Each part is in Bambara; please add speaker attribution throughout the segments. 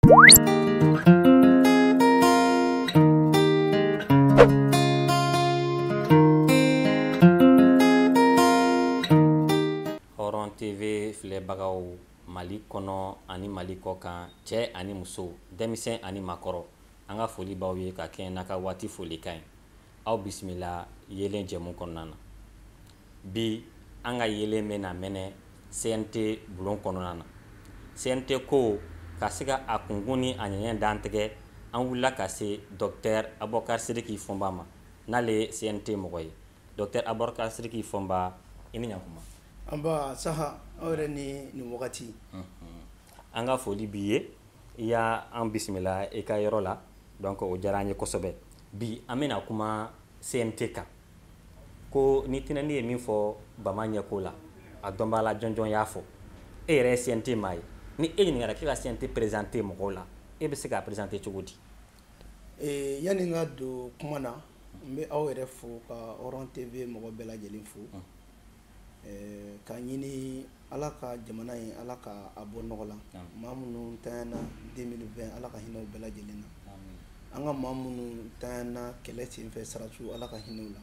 Speaker 1: Hɔrɔn TV filɛbagaw Mali kɔnɔ ani Mali kɔkan cɛ ani muso denmisɛn ani makɔrɔ an ka foli b'aw ye ka kɛɲɛ n'a ka waati folikan ye aw bisimila yeelen jɛmu kɔnɔna na. bi an ka yeelen bɛ na mɛnɛ CNT bulon kɔnɔna na CNT ko ka se ka a kunkun ni a ɲɛɲɛ dantigɛ an wulila ka se Docteur Abubakar Sidiki Fɔnba ma n'ale ye CNT mɔgɔ ye Docteur Abubakar Sidiki Fɔnba i ni ɲankuma nba
Speaker 2: saha aw yɛrɛ ni
Speaker 1: wagati an ka foli b'i ye i y'an bisimila i ka yɔrɔ la donc o diyara an ye kosɛbɛ bi an bɛna kuma CNT kan ko ni tinɛni ye min fɔ bama ɲɛko la a dɔnbaa la jɔnjɔn y'a fɔ e yɛrɛ ye CNT maa ye ni e ɲininkara k'e ka CNT présenter mɔgɔw la e bɛ se k'a présenter cogo di
Speaker 2: eh, yanni n ka don kuma na n bɛ aw yɛrɛ fo ka Hɔrɔn TV mɔgɔ bɛɛ lajɛlen fo mm. Ka ɲini ala ka jamana in ala ka a bɔ nɔgɔ la maa minnu ntanyana deux mille vingt ala ka hinɛ u bɛɛ lajɛlen na an ka maa minnu ntanyana kɛlɛ sen fɛ sɔrɔdasiw ala ka hinɛ u la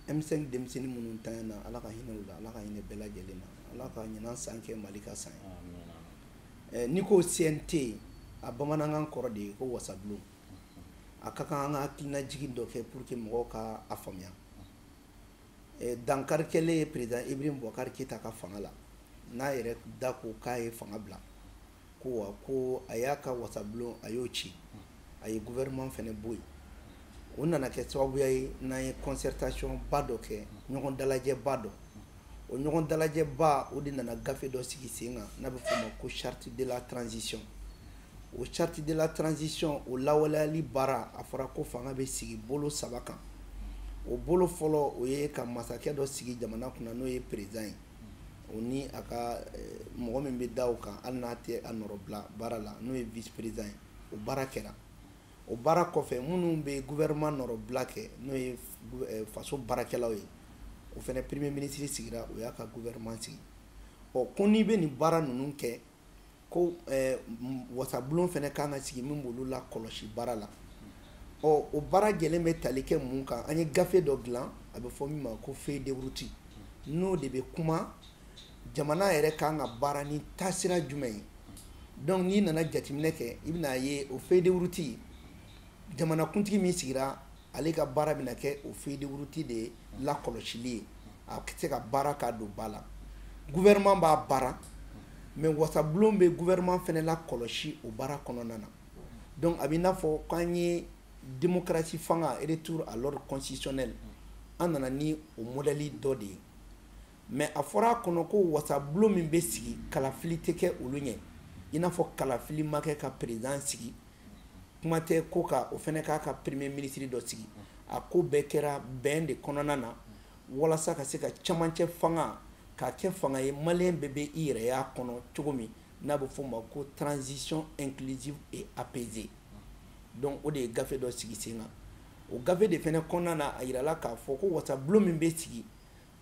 Speaker 2: M5 denmisɛnnin minnu ntanyana ala ka hinɛ u la ala ka hinɛ bɛɛ lajɛlen na ala ka ɲinan san kɛ mali ka san ye n'i ko CNT a bamanankan kɔrɔ de ye ko wasabulon a ka kan an ka hakilinajigin dɔ kɛ pour que mɔgɔw ka a faamuya eh, dankari kɛlen ye président Ibrahim Boubacar Keita ka fanga la n'a yɛrɛ da ko k'a ye fanga bila ko wa ko a y'a ka wasabulon a y'o ci a ye gouvernement fɛnɛ bɔ yen o nana kɛ sababuya ye n'an ye concertation ba dɔ kɛ ɲɔgɔn dalajɛba dɔ o ɲɔgɔn dalajɛba o de nana gafe dɔ sigi sen kan n'a bɛ f'o ma ko charte de la transition o charte de la transition o lawaleyali baara a fɔra ko fanga bɛ sigi bolo saba kan o bolo fɔlɔ o ye ka masakɛ dɔ sigi jamana kunna n'o ye président ye o ni a ka eh, mɔgɔ min bɛ da o kan hali n'a tɛ a nɔrɔbila baara la n'o ye vice président ye o baara kɛra o baara kɔfɛ minnu bɛ gouvernement nɔrɔbila kɛ n'o ye eh, faso baarakɛlaw ye o fɛnɛ premier ministre sigira o y'a ka gouvernement sigi ɔ ko n'i bɛ nin baara ninnu kɛ ko eh, wasabulon fɛnɛ kan ka sigi min b'olu lakɔlɔsi baara la ɔ o baara jɛlen bɛ tali kɛ mun kan an ye gafe dɔ dilan a bɛ fɔ min ma ko feuille de route n'o de bɛ kuma jamana yɛrɛ kan ka baara ni taasira jumɛn ye donc n'i nana jateminɛ kɛ i bɛna a ye o feuille de route jamanakuntigi min sigira ale ka baara bɛna kɛ o feuille de route de lakɔlɔsili ye a tɛ se ka baara k'a don ba la gouvernement b'a baara mais wasabulon bɛ gouvernement fɛnɛ lakɔlɔsi o baara kɔnɔna na donc a bɛ i n'a fɔ k'an ye démocratie fanga retour à l'ordre constitutionnel an nana ni o modèle dɔ de ye mais a fɔra a kɔnɔ ko wasabulon min bɛ sigi kalafili tɛ kɛ olu ɲɛ i n'a fɔ kalafili ma kɛ ka président sigi kuma tɛ ko ka o fɛnɛ k'a ka premier ministre dɔ sigi a ko bɛɛ kɛra bɛn de kɔnɔna na walasa ka se ka camancɛ fanga k'a kɛ fanga ye maliyɛn bɛɛ bɛ i yɛrɛ y'a kɔnɔ cogo min n'a bɛ f'o ma ko transition inclusive et apaisée donc o de ye gafe dɔ sigi sen kan o gafe de fɛnɛ kɔnɔna na a yirala k'a fɔ ko wasabulon min bɛ sigi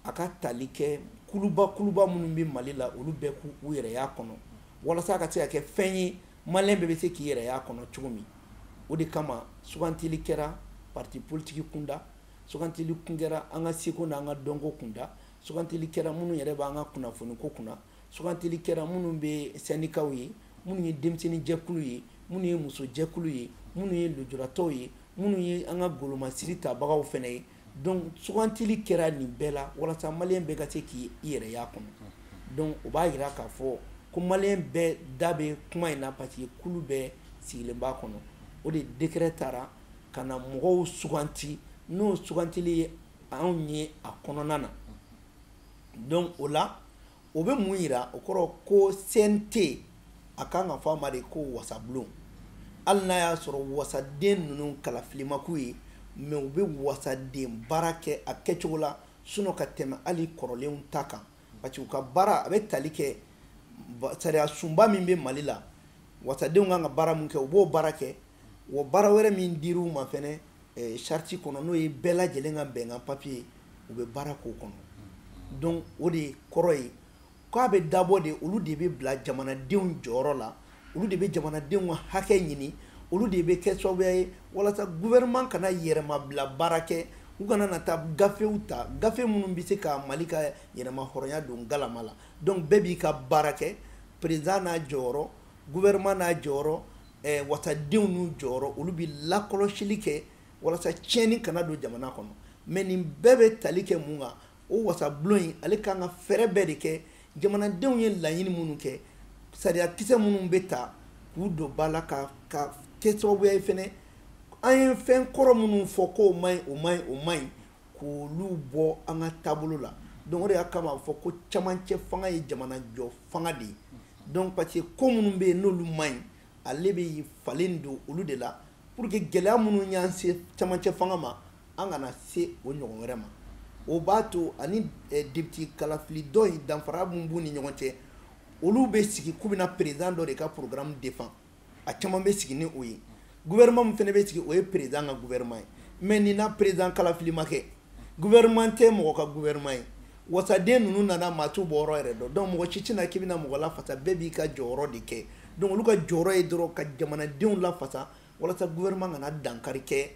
Speaker 2: a ka tali kɛ kuluba kuluba minnu bɛ mali la olu bɛɛ k'u yɛrɛ y'a kɔnɔ walasa ka se ka kɛ fɛn ye maa bɛɛ bɛ se k'i yɛrɛ y'a kɔnɔ cogo min o de kama sugantili kɛra parti politique kunda sugantili kun kɛra an ka seko n'an ka dɔnko kunda sugantili kɛra minnu yɛrɛ b'an ka kunnafoniko kunna sugantili kɛra minnu bɛ syndicats ye minnu ye denmisɛnninjɛkulu ye minnu ye musojɛkulu ye minnu ye lujuratɔw ye minnu ye an ka golomasiri tabagaw fɛnɛ ye donc sugantili kɛra nin bɛɛ la walasa maliyɛn bɛɛ ka se k'i yɛrɛ y'a kɔnɔ donc o b'a yira k'a fɔ ko maliyɛn bɛɛ da bɛ kuma in na parce que kulu bɛɛ sigilen b'a kɔnɔ o de décret taara ka na mɔgɔw suganti n'o sugantili ye anw ye a kɔnɔna na donc o la o bɛ mun yira o kɔrɔ ko CNT a kan ka fɔ a ma de ko wasabulon hali n'a y'a sɔrɔ wasaden ninnu kalafili ma k'u ye mais u bɛ wasaden baara kɛ a kɛcogo la sinon ka tɛmɛ hali kɔrɔlenw ta kan parce que u ka baara a bɛ tali kɛ sariya sunba min bɛ mali la wasadenw kan ka baara min kɛ u b'o baara kɛ wa baara wɛrɛ min dir'u ma fɛnɛ eh, charte kɔnɔ n'o ye bɛɛ lajɛlen ka bɛnkan papier ye u bɛ baara k'o kɔnɔ donc o de kɔrɔ ye k'a bɛ dabɔ de olu de bɛ bila jamanadenw jɔyɔrɔ la olu de bɛ jamanadenw ka hakɛ ɲini olu de bɛ kɛ sababuya ye walasa gouvernement kana yɛrɛmabila baara kɛ u kana na taa gafew ta gafe minnu bɛ se ka mali ka yɛrɛma hɔrɔnya don galama la donc bɛɛ b'i ka baara kɛ président n'a jɔyɔrɔ gouvernement n'a jɔyɔrɔ wasadenw n'u jɔyɔrɔ olu bɛ lakɔlɔsili kɛ walasa tiɲɛni kana don jamana kɔnɔ mais nin bɛɛ bɛ tali kɛ mun kan o wasabulon in ale kan ka fɛɛrɛ bɛɛ de kɛ jamanadenw ye laɲini minnu kɛ sariya kisɛ minnu bɛ ta k'u don ba la ka kɛ sababuya ye fɛnɛ an ye fɛn kɔrɔ minnu fɔ ko ma o ma o man ɲi k'olu bɔ an ka taabolo la donc o de y'a kama a fɔ ko camancɛ fanga ye jamana jɔ fanga de ye donc parce que ko minnu bɛ yen n'olu man ɲi ale bɛ falen don olu de la pour que gɛlɛya minnu y'an se camancɛ fanga ma an kana se o ɲɔgɔn wɛrɛ ma o b'a to ani eh, depite kalafili dɔ in danfara min b'u ni ɲɔgɔn cɛ olu bɛ sigi k'u bɛna président dɔ de ka programme défend a caman bɛ sigi ni o ye gouvernement min fɛnɛ bɛ sigi o ye président ka gouvernement ye mais nin na président kalafili ma kɛ gouvernement tɛ mɔgɔ ka gouvernement ye wasaden ninnu nana maa t'u bɔyɔrɔ yɛrɛ dɔn donc mɔgɔ si tɛna k'i bɛna mɔgɔ lafasa bɛɛ b'i ka jɔyɔrɔ de kɛ donc olu ka jɔyɔrɔ ye dɔrɔn ka jamanadenw lafasa walasa gouvernement kana dankari kɛ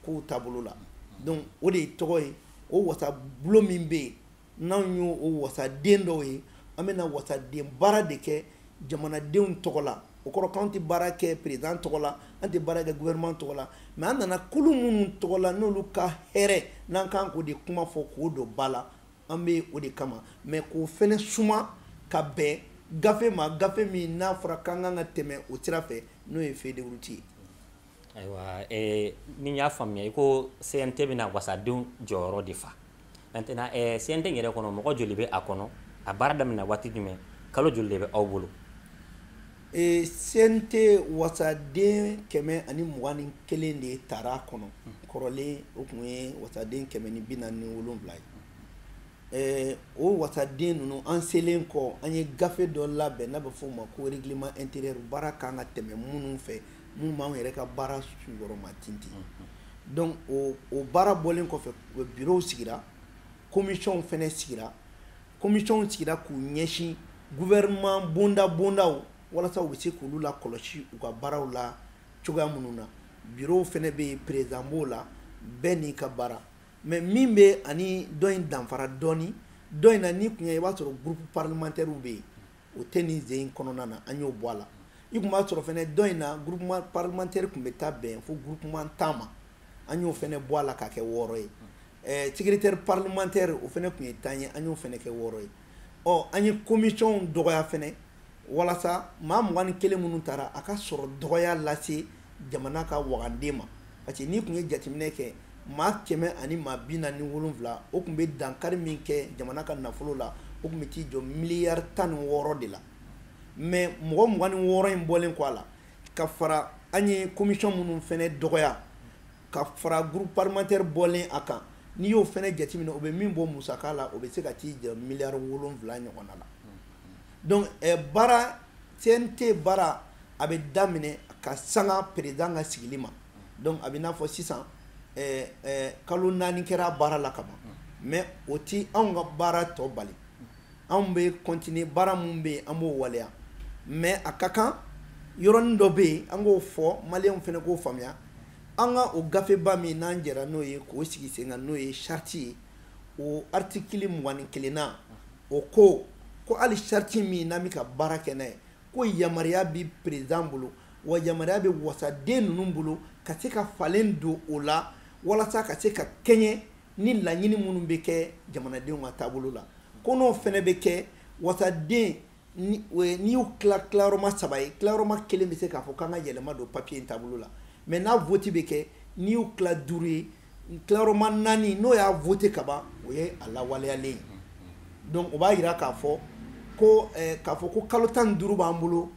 Speaker 2: kow taabolo la donc o de ye tɔgɔ ye o wasabulon min bɛ yen n'anw y'o o wasaden dɔw ye an bɛna wasaden baara de kɛ jamanadenw tɔgɔ la o kɔrɔ k'an tɛ baara kɛ perezidan tɔgɔ la an tɛ baara kɛ gouvernement tɔgɔ la mais an nana kulu minnu tɔgɔ la n'olu ka hɛrɛ n'an kan k'o de kuma fɔ k'o don ba la an bɛ o de kama mais k'o fɛnɛ suma ka bɛn gafe ma gafe min n'a fɔra k'an kan ka tɛmɛ o sira fɛ n'o ye feuille de route ye ayiwa
Speaker 1: eh, ni y'a faamuya i ko cnt bɛna wasadenw jɔyɔrɔ de fa maintenant eh, cnt yɛrɛ kɔnɔ mɔgɔ joli bɛ a kɔnɔ a baara daminɛ waati jumɛn kalo joli de bɛ aw bolo eh, cnt
Speaker 2: wasaden kɛmɛ ani mugan ni kelen de tara a kɔnɔ kɔrɔlen o tun ye wasaden kɛmɛ ni bi naani ni wolonwula ye Eh, o wasaden ninnu an selen kɔ an ye gafe dɔ labɛn n'a bɛ fɔ o ma ko règlement intérieur baara kan ka tɛmɛ minnu fɛ minnu b'anw yɛrɛ ka baara suyɔrɔma tintin donc o o baara bɔlen kɔfɛ bureau sigira commission fɛnɛ sigira commission sigira k'u ɲɛsin gouvernement bonda bondaw walasa u bɛ se k'olu la kɔlɔsi u ka baaraw la cogoya minnu na bureau fɛnɛ bɛ yen président b'o la bɛɛ n'i ka baara mais min bɛ ani dɔ in danfara dɔɔni dɔ in na n'i tun y'a ye i b'a sɔrɔ groupe parlementaire bɛ yen o tɛ nin sen in kɔnɔna na an y'o bɔ a la i tun b'a sɔrɔ fɛnɛ dɔ in na groupement parlementaire tun bɛ taa bɛn fo groupement tan ma an y'o fɛnɛ bɔ a la k'a kɛ wɔɔrɔ ye ɛɛ secrétaire parlementaire o fɛnɛ tun ye tan ye an y'o fɛnɛ kɛ wɔɔrɔ ye ɔ an ye commission dɔgɔya fɛnɛ walasa maa mugan ni kelen minnu tara a ka sɔrɔ dɔgɔya lase jamana ka wagande ma parce que n'i tun ye jateminɛ kɛ maa kɛmɛ ani maa bi naani ni wolonwula o tun bɛ dankari min kɛ jamana ka nafolo la o tun bɛ t'i jɔ miliyari tan ni wɔɔrɔ de la mais mɔgɔ mugan ni wɔɔrɔ in bɔlen kɔ a la ka fara an ye commission minnu fɛnɛ dɔgɔya ka fara groupe parlementaire bɔlen a kan n'i y'o fɛnɛ jateminɛ o bɛ min bɔ musaka la o bɛ se ka t'i jɔ miliyari wolonwula ɲɔgɔnna la donc baara cnt baara a bɛ daminɛ ka sanga perezidan ka sigili ma donc a bɛ n'a fɔ sisan eh, eh, kalo naani kɛra baara la ka ban mais o ti anw ka baara tɔ bali anw bɛ continuer baara min bɛ yen an b'o waleya mais a ka kan yɔrɔnin dɔ bɛ yen an k'o fɔ maliyɛnw fana k'o faamuya an ka o gafeba min n'an jɛra n'o ye k'o sigi sen kan n'o ye sariti ye o artikili mugan ni kelenna o ko ko hali sariti min n'an bɛ ka baara kɛ n'a ye ko yamaruya bɛ perezidan bolo wa yamaruya bɛ wasaden ninnu bolo ka se ka falen don o la walasa ka se ka kɛɲɛ ni laɲini minnu bɛ kɛ jamanadenw ka taabolo la ko n'o fana bɛ kɛ wasaden n'i y'u tila tilayɔrɔma saba ye tilayɔrɔma kelen bɛ se k'a fɔ k'an ka yɛlɛma don papiye in taabolo la mais n'a vote bɛ kɛ n'i y'u tila duuru ye n tilayɔrɔma naani n'o y'a vote ka ban o ye a lawaleyalen ye donc o b'a jira k'a fɔ ko eh, k'a fɔ ko kalo tan ni duuru b'an bolo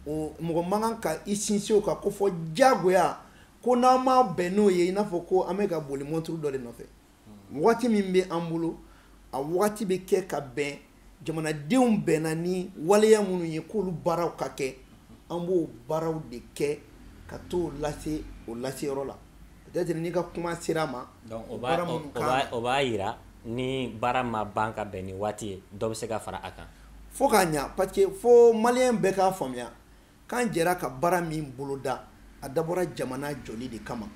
Speaker 2: o mɔgɔ man kan ka i sinsin o kan ko fo diyagoya ko n'an ma bɛn n'o ye i n'a fɔ ko an bɛ ka boli mɔnturu dɔ de nɔfɛ wagati min bɛ an bolo a wagati bɛ kɛ ka bɛn jamanadenw bɛnna ni waleya minnu ye k'olu baaraw ka kɛ an b'o baaraw de kɛ ka t'o lase o laseyɔrɔ la peut-être n'i ka kuma sera a ma donc o b'a baara o minnu
Speaker 1: o kan b'a o b'a yira ni baara ma ban ka bɛn ni waati ye dɔ bɛ se ka fara a kan fo k'a ɲa parce
Speaker 2: que fo maliyɛn bɛɛ k'a faamuya K'an jɛra ka baara min boloda, a dabɔra jamana jɔli de kama.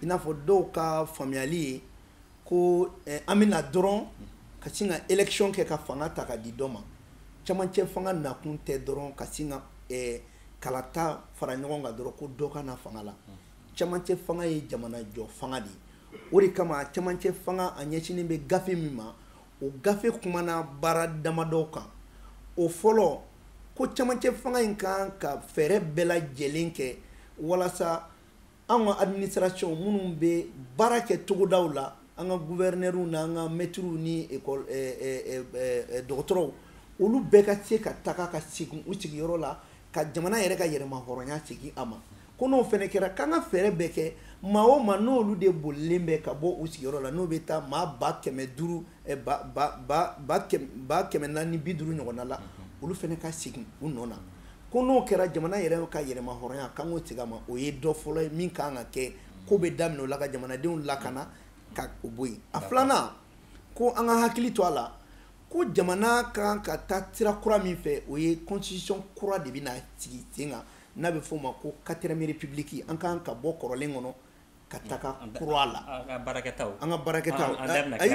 Speaker 2: I n'a fɔ dɔw ka faamuyali ye ko an bɛ na dɔrɔn ka sin ka élection kɛ ka fanga ta ka di dɔ ma. Camancɛ fanga nakun tɛ dɔrɔn ka sin ka kalata fara ɲɔgɔn kan dɔrɔn ko dɔ ka na fanga la. Camancɛ fanga ye jamanajɔ fanga de ye. O de kama camancɛ fanga a ɲɛsinen bɛ gafe min ma, o gafe kumana baara damadɔ kan o fɔlɔ ko camancɛ fanga in kan ka fɛɛrɛ bɛɛ lajɛlen kɛ walasa an ka administration minnu bɛ baara kɛ togodaw la an ka guvɛrinɛriw n'an ka mɛtiriw ni ekɔl eh, eh, eh, eh, eh, dɔgɔtɔrɔw olu bɛɛ ka se ka taga ka segin u sigiyɔrɔ la ka jamana yɛrɛ ka yɛrɛmahɔrɔnya segin a ma ko n'o fana kɛra k'an ka fɛɛrɛ bɛɛ kɛ maa o maa n'olu de bolilen bɛ ka bɔ u sigiyɔrɔ la n'o bɛ taa maa ba kɛmɛ duuru eh, ba ba ba ba kɛmɛ ba kɛmɛ naani bi duuru ɲɔgɔnna la olu fana ka segin u nɔ na ko n'o kɛra jamana yɛrɛ ka yɛrɛmahɔrɔnya k'an k'o segin a ma o ye dɔ fɔlɔ ye min kan ka kɛ ko bɛ daminɛ o la ka jamanadenw lakana ka o bɔ yen a filanan ko an ka hakili to a la ko jamana kan ka taa sira kura min fɛ o ye constitution kura de bɛna sigi sen kan n'a bɛ f'o ma ko quatrième république an ka kan ka bɔ kɔrɔlen kɔnɔ ka taga kura la an ka baarakɛta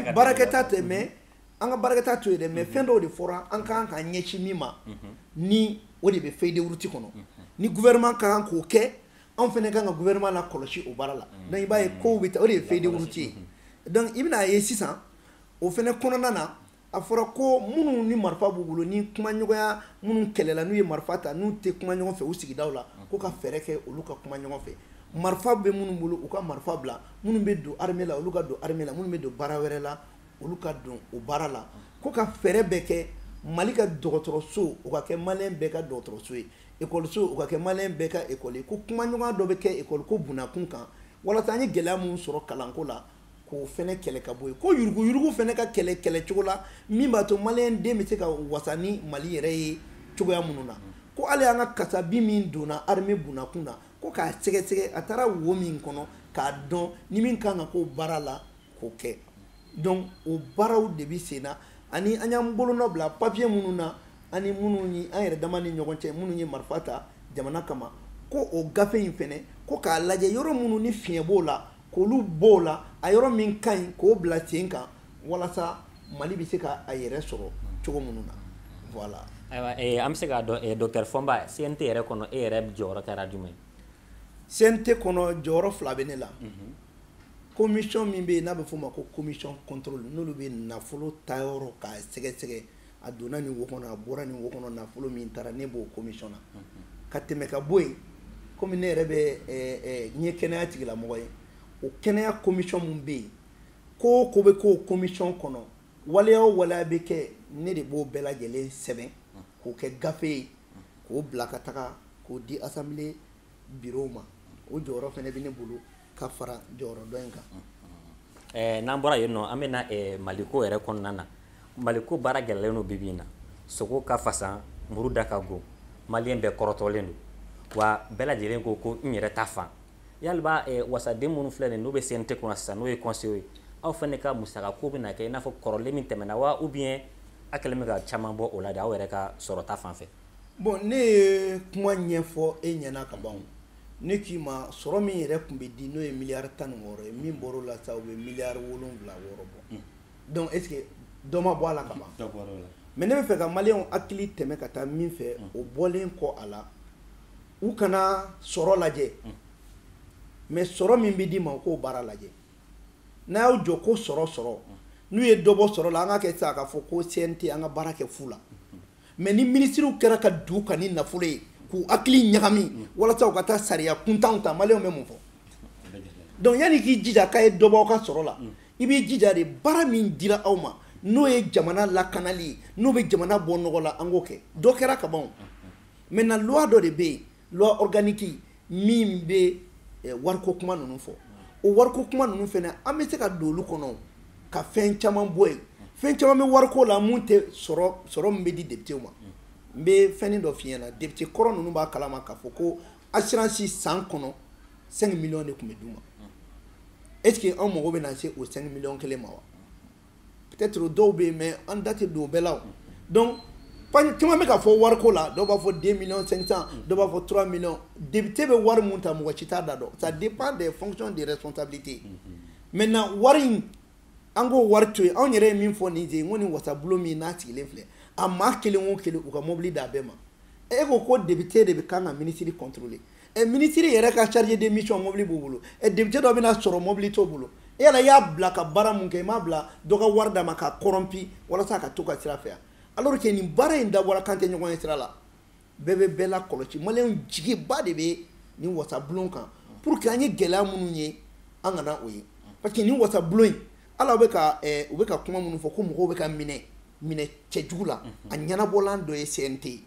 Speaker 2: a baarakɛta tɛ mais an ka baarakɛta to yen dɛ mais fɛn dɔw de fɔra an ka kan ka ɲɛsin min ma ni o de bɛ feuille de route kɔnɔ ni gouvernement kan k'o kɛ anw fɛnɛ kan ka gouvernement la kɔlɔsi o baara la donc i b'a ye ko bɛ taa o de ye feuille de route ye donc i bɛna a ye sisan o fɛnɛ kɔnɔna na a fɔra ko minnu ni marifa b'u bolo ni kumaɲɔgɔnya minnu kɛlɛla n'u ye marifa ta n'u tɛ kuma ɲɔgɔn fɛ u sigidaw la ko ka fɛɛrɛ kɛ olu ka kuma ɲɔgɔn fɛ marifa bɛ minnu bolo u ka marifa bila minnu bɛ don armée la olu ka don armée la minnu bɛ don baara wɛrɛ la olu ka don o baara la ko ka fɛɛrɛ bɛɛ kɛ mali ka dɔgɔtɔrɔso o ka kɛ maliyɛn bɛɛ ka dɔgɔtɔrɔso ye ekɔliso o ka kɛ maliyɛn bɛɛ ka ekɔli ye ko kumaɲɔgɔnya dɔ bɛ kɛ ekɔliko bunakun kan walasa an ye gɛlɛya minnu sɔrɔ kalanko la k'o fɛnɛ kɛlɛ ka bɔ yen ko yuruguyurugu fɛnɛ ka kɛlɛ kɛlɛ cogo la min b'a to maliyɛn den bɛ se ka wasa ni mali yɛrɛ ye cogoya minnu na ko hali an ka kasabi min donna armée bunakun na ko k'a sɛgɛsɛgɛ a taara wo min kɔnɔ k'a dɔn ni min kan ka k'o baara la k'o kɛ donc o baaraw de bɛ sen na ani an y'an bolonɔ bila papier minnu na ani minnu ni an yɛrɛ dama ni ɲɔgɔn cɛ minnu ye marifa ta jamana kama ko o gafe in fɛnɛ ko k'a lajɛ yɔrɔ minnu ni fiɲɛ b'o la k'olu b'o la a yɔrɔ min ka ɲi k'o bila sen kan walasa mali bɛ se ka a yɛrɛ sɔrɔ cogo minnu na voilà ayiwa eh, an bɛ se
Speaker 1: k'a dɔn eh, docteur fɔnba cnt yɛrɛ kɔnɔ e yɛrɛ jɔyɔrɔ kɛra jumɛn ye cnt
Speaker 2: kɔnɔ jɔyɔrɔ fila bɛ ne la mhm. commission min bɛ yen n'a bɛ f'o ma ko commission contrôle n'olu bɛ nafolo tayɔrɔ k'a sɛgɛsɛgɛ a donna nin wo kɔnɔ a bɔra nin wo kɔnɔ nafolo min taara ne b'o commission na ka tɛmɛ ka bɔ yen komi ne yɛrɛ bɛ eh, eh, n ye kɛnɛya tigilamɔgɔ ye o kɛnɛya commission min bɛ yen ko o ko bɛ k'o commission kɔnɔ waleya o waleya bɛ kɛ ne de b'o bɛɛ lajɛlen sɛbɛn k'o kɛ gafe ye k'o bila ka taga k'o di assemblée bureau ma o jɔyɔrɔ fɛnɛ bɛ ne bolo ka fara jɔyɔrɔ dɔ in kan eh, n'an bɔra yen nɔ
Speaker 1: an bɛna eh, maliko yɛrɛ kɔnɔna na maliko baara gɛlɛlen don bibi in na sogo ka fasan muru da ka go maliyɛn bɛɛ kɔrɔtɔlen don wa bɛɛ lajɛlen ko ko n yɛrɛ ta fan yaliba eh, wasaden minnu filɛ nin n'u bɛ cnt kɔnɔ sisan n'o ye conseil ye aw fɛnɛ ka musakako bɛna kɛ i n'a fɔ kɔrɔlen min tɛmɛna wa ou bien a kɛlen bɛ ka caman bɔ o la de aw yɛrɛ ka sɔrɔta fan fɛ bon ne
Speaker 2: ye kuma ɲɛfɔ e ɲɛna kaban ne k'i ma sɔrɔ min yɛrɛ tun bɛ di n'o ye miliyari tan ni wɔɔrɔ ye min bɔr'a la sa u bɛ miliyari wolowula wɔɔrɔ bɔ hmm. donc est-ce que dɔ ma bɔ a la kaban mais ne bɛ fɛ ka maliyɛn hakili tɛmɛ ka taa min fɛ hmm. o bɔlen kɔ a la u kana sɔrɔ lajɛ hmm. mais sɔrɔ min bɛ d'i ma u k'o baara lajɛ n'a y'aw jɔ ko sɔrɔ sɔrɔ n'u ye dɔ bɔ sɔrɔ la an ka kɛ sa k'a fɔ ko cnt an ka baara kɛ fu la mais ni minisiriw kɛra ka don u kan ni nafolo ye k'u hakili ɲagami walasa u ka taa sariya kuntanw ta maliyɛnw bɛ mun fɔ donc yanni k'i jija k'a ye dɔ bɔ aw ka sɔrɔ la i b'i jija de baara min dira aw ma n'o ye jamana lakanali ye n'o bɛ jamana bɔ nɔgɔ la an k'o kɛ dɔ kɛra ka ban maintenant loi dɔ de bɛ yen loi organique min bɛ eh, wariko kuma ninnu fɔ o wariko kuma ninnu fana an bɛ se ka don olu kɔnɔ ka fɛn caman bɔ yen fɛn caman bɛ wariko la mun tɛ sɔrɔ sɔrɔ min bɛ di depitew ma n bɛ fɛnnin dɔ f'i ɲɛna depite kɔrɔ ninnu b'a kalama k'a fɔ ko assurance san kɔnɔ 5 millions de tun bɛ d'u ma est ce que anw mago bɛ na se o 5 millions kelen ma wa peut-être o dɔw bɛ yen mais an da tɛ don o bɛɛ la o donc caman bɛ ka fɔ wariko la dɔw b'a fɔ 2 millions 500 dɔw b'a fɔ 3 millions député bɛ wari mun ta mɔgɔ si t'a da dɔn ça dépend des fonctions des responsabilités maintenant wari in an k'o wari to yen anw yɛrɛ ye min fɔ nin ye n ko nin wasabulon min n'a sigilen filɛ a maa kelen o kelen u ka mobili d'a bɛɛ ma e ko ko député de bɛ kan ka ministre contrôler ɛ minisiri yɛrɛ ka chargé de mission mobili b'u bolo ɛ député dɔ bɛna sɔrɔ mobili t'o bolo e yala i y'a bila ka baara mun kɛ i m'a bila dɔ ka wari d'a ma k'a corrompu walasa a ka to ka sira fɛ yan alors que nin baara in dabɔra k'an tɛ ɲɔgɔn ye sira la bɛɛ bɛ bɛɛ lakɔlɔsi maliyɛnw jigiba de bɛ nin wasabulon kan pour que an ye gɛlɛya minnu ye an kana o ye parce que nin wasabulon in ala bɛ ka eh, u bɛ ka kuma minnu fɔ ko mɔgɔw bɛ ka minɛ minɛ cɛjugu la a ɲɛnabɔlan dɔ ye CNT ye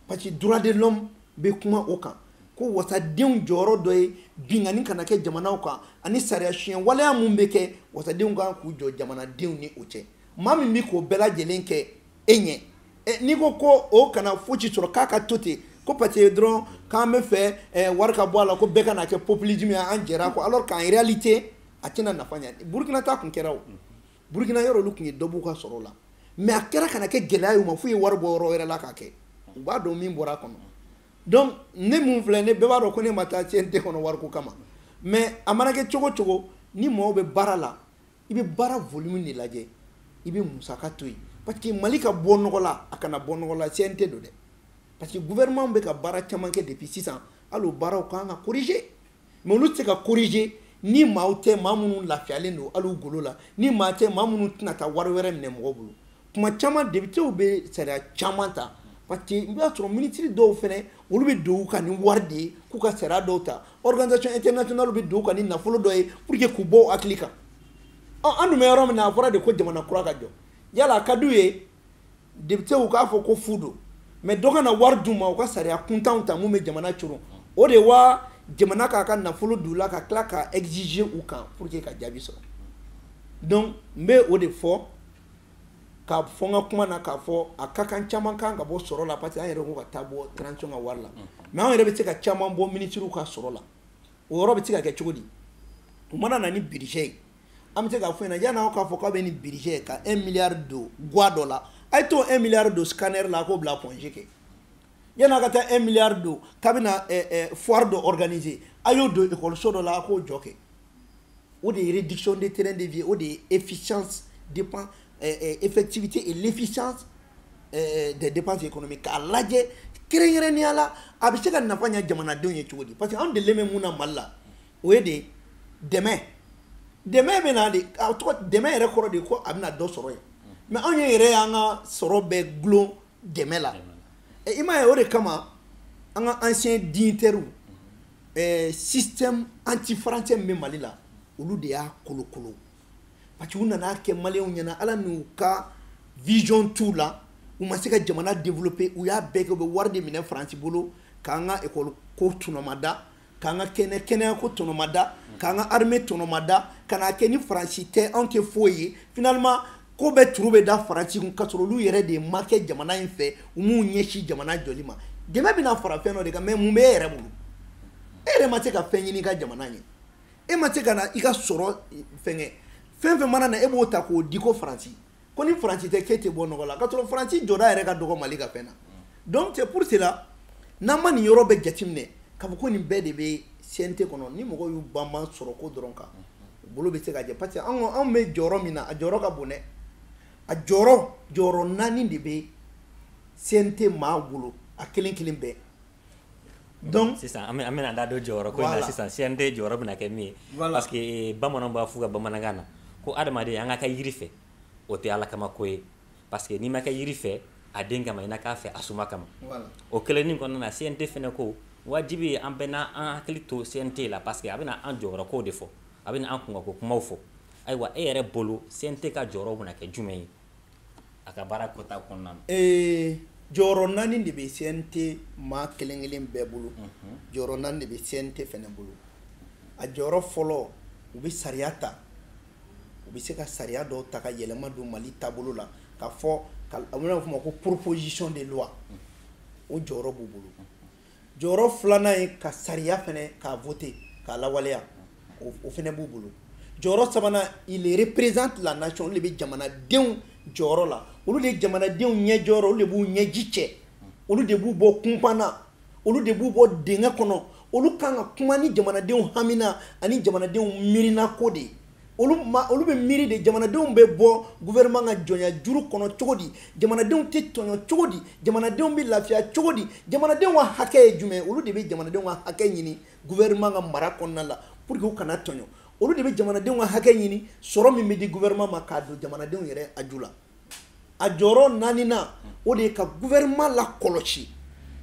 Speaker 2: parce que droit de l'homme bɛ kuma o kan ko wasadenw jɔyɔrɔ dɔ ye binkanni kana kɛ jamanaw kan ani sariya tiɲɛ waleya min bɛ kɛ wasadenw kan k'u jɔ jamanadenw ni o cɛ maa min bɛ k'o bɛɛ lajɛlen kɛ e ɲɛ n'i ko ko o kana fosi sɔrɔ k'a ka to ten ko parce que dɔrɔn k'an bɛ fɛ wari ka bɔ a la ko bɛɛ kana kɛ populisme ye an jɛra ko alors qu'en réalité a tɛna nafa ɲɛ Burkina ta tun kɛra o burukina yɔrɔ olu tun ye dɔ b'u ka sɔrɔ la mais a kɛra ka na kɛ gɛlɛya y'u ma f'u ye wari bɔ yɔrɔ wɛrɛ la k'a kɛ u b'a dɔn min bɔra a kɔnɔ donc ne mun filɛ ne bɛɛ b'a dɔn ko ne ma taa CNT kɔnɔ wariko kama mais a mana kɛ cogo cogo ni mɔgɔw bɛ baara la i bɛ baara volume de lajɛ i bɛ musaka to yen parce que mali ka bɔ nɔgɔ la a kana bɔ nɔgɔ la CNT don dɛ parce que gouvernement bɛ ka baara caman kɛ depuis sisan hali o baaraw kan ka corriger mais olu tɛ se ka korije ni maaw tɛ maa minnu lafiyalen don hali u golo la ni maa tɛ maa minnu tɛna taa wari wɛrɛ minɛ mɔgɔ bolo kuma caman depitew bɛ sariya caman ta parce que i b'a sɔrɔ minisiri dɔw fana olu bɛ don u kan ni wari de ye k'u ka sariya dɔw ta organisation internationale bɛ don u kan ni nafolo dɔ ye pour que k'u bɔ u hakili kan ɔ an dun bɛ yɔrɔ min na a fɔra de ko jamana kura ka jɔ yala a ka d'u ye depitew k'a fɔ ko fu don mais dɔ ka na wari d'u ma u ka sariya kuntanw ta mun bɛ jamana coron o de wa jamana k'a ka nafolo d'u la ka tila ka exiger u kan pour que ka jaabi sɔrɔ donc n bɛ o de fɔ ka fɔ n ka kuma na k'a fɔ a ka kan caman kan ka bɔ sɔrɔ la parce que an yɛrɛ ko ka taa bɔ transition ka wari la mais an yɛrɛ bɛ se ka caman bɔ minisiriw ka sɔrɔ la o yɔrɔ bɛ se ka kɛ cogo di u mana na ni budget ye an bɛ se k'a f'u ɲɛna yanni aw k'a fɔ k'aw bɛ nin budget ka un milliard don guwa dɔ la a ye t'o un milliard don scanner la a k'o bila Point G kɛ yanni a ka taa un milliard don k'a bɛna eh, eh, foire dɔ organiser a y'o don ekɔliso dɔ la a k'o jɔ kɛ o de ye réduction de train de vie o de ye efficience dépend eh, eh, effectivité et l'efficience eh, des dépenses économiques k'a lajɛ kɛrɛnkɛrɛnnenya la a bɛ se ka nafa ɲɛ jamanadenw ye cogo di parce que anw delilen bɛ mun na mali la o ye de dɛmɛ dɛmɛ bɛ na de a tɔgɔ dɛmɛ yɛrɛ kɔrɔ de ko a bɛna dɔ sɔrɔ yen mais anw ye yɛrɛ y'an ka sɔrɔ bɛɛ gulon dɛmɛ la i m'a ye o de kama an ka anciens dignitaires sentiment anti français min bɛ Mali la olu de y'a kolokolo parce que u nana kɛ maliyɛnw ɲɛna ala n'u ka vision t'u la u ma se ka jamana développer u y'a bɛɛ kɛ u bɛ wari de minɛ faransi bolo k'an ka ekɔli ko tɔnɔmada k'an ka kɛnɛ kɛnɛya ko tɔnɔmada k'an ka armée tɔnɔmada ka n'a kɛ ni faransi tɛ anw tɛ foyi ye finalement ko bɛɛ turu bɛ da faransi kun k'a sɔrɔ olu yɛrɛ de ma kɛ jamana in fɛ u m'u ɲɛsin jamana jɔli ma dɛmɛ bɛna fara fɛn dɔ de kan mais mun bɛ e yɛrɛ bolo e yɛrɛ ma se ka fɛn ɲini i ka jamana ɲɛ e ma se ka na i ka sɔrɔ fɛngɛ fɛn fɛn mana na e b'o ta k'o di ko faransi ko ni faransi tɛ k'e tɛ bɔ nɔgɔ la ka sɔrɔ faransi jɔda yɛrɛ ka dɔgɔ mali ka fɛn na donc c'est pour cela n'an ma nin yɔrɔ bɛɛ jateminɛ k'a fɔ ko nin bɛɛ de bɛ CNT kɔnɔ ni mɔgɔw y'u banban sɔrɔ ko dɔrɔn kan u bolo bɛ se ka jɛ parce que anw anw bɛ jɔyɔrɔ min na a jɔyɔrɔ ka bon dɛ a jɔyɔrɔ jɔyɔrɔ naani de bɛ CNT maa bolo a kelen kelen bɛɛ donc sisan an
Speaker 1: bɛna da don jɔyɔrɔ ko in na sisan CNT jɔyɔrɔ bɛna kɛ min ye parce que eh, bamananw b'a f'u ka bamanankan na ko adamaden an ka kɛ yiri fɛ o tɛ ala kama ko ye parce que n'i ma kɛ yiri fɛ a den kama i na k'a fɛ a suma kama o kelennin kɔnɔna na CNT fɛnɛ ko wajibi ye an bɛɛ n'an an hakili to CNT la parce que a bɛna an jɔyɔrɔ kow de fɔ a bɛna an kunkanko kumaw fɔ ayiwa e yɛrɛ bolo CNT ka jɔyɔrɔ bɛna kɛ jumɛn ye a ka baara kɛta kɔnɔna ee
Speaker 2: jɔyɔrɔ naani de bɛ CNT maa kelen kelen bɛɛ bolo jɔyɔrɔ naani de bɛ CNT fɛnɛ bolo a jɔyɔrɔ fɔlɔ u bɛ sariya ta u bɛ se ka sariya dɔw ta ka yɛlɛma don mali taabolo la k'a fɔ a bɛna f'a ma ko proposition de loi o jɔyɔrɔ b'u bolo jɔyɔrɔ filanan ye ka sariya fɛnɛ k'a voter k'a lawaleya o fɛnɛ b'u bolo jɔyɔrɔ sabanan il représente la nation olu de bɛ jamanadenw jɔyɔrɔ la olu de ye jamanadenw ɲɛ jɔyɔrɔ olu de b'u ɲɛji cɛ olu de b'u bɔ kunpan na olu de b'u bɔ dingɛ kɔnɔ olu kan ka kuma ni jamanadenw hamina ani jamanadenw miirina ko de ye olu olu bɛ miiri de jamanadenw bɛ bɔ gouvernement ka jɔnya juru kɔnɔ cogo di jamanadenw tɛ tɔɲɔ cogo di jamanadenw bɛ lafiya cogo di jamanadenw ka hakɛ ye jumɛn olu de bɛ jamanadenw ka hakɛ ɲini gouvernement ka mara kɔnɔna la pour que u kana tɔɲɔ olu de bɛ jamanadenw ka hakɛ ɲini sɔrɔ min bɛ di gouvernement ma k'a don jamanadenw yɛrɛ haju la a jɔyɔrɔ naaninan o de ye ka gouvernement lakɔlɔsi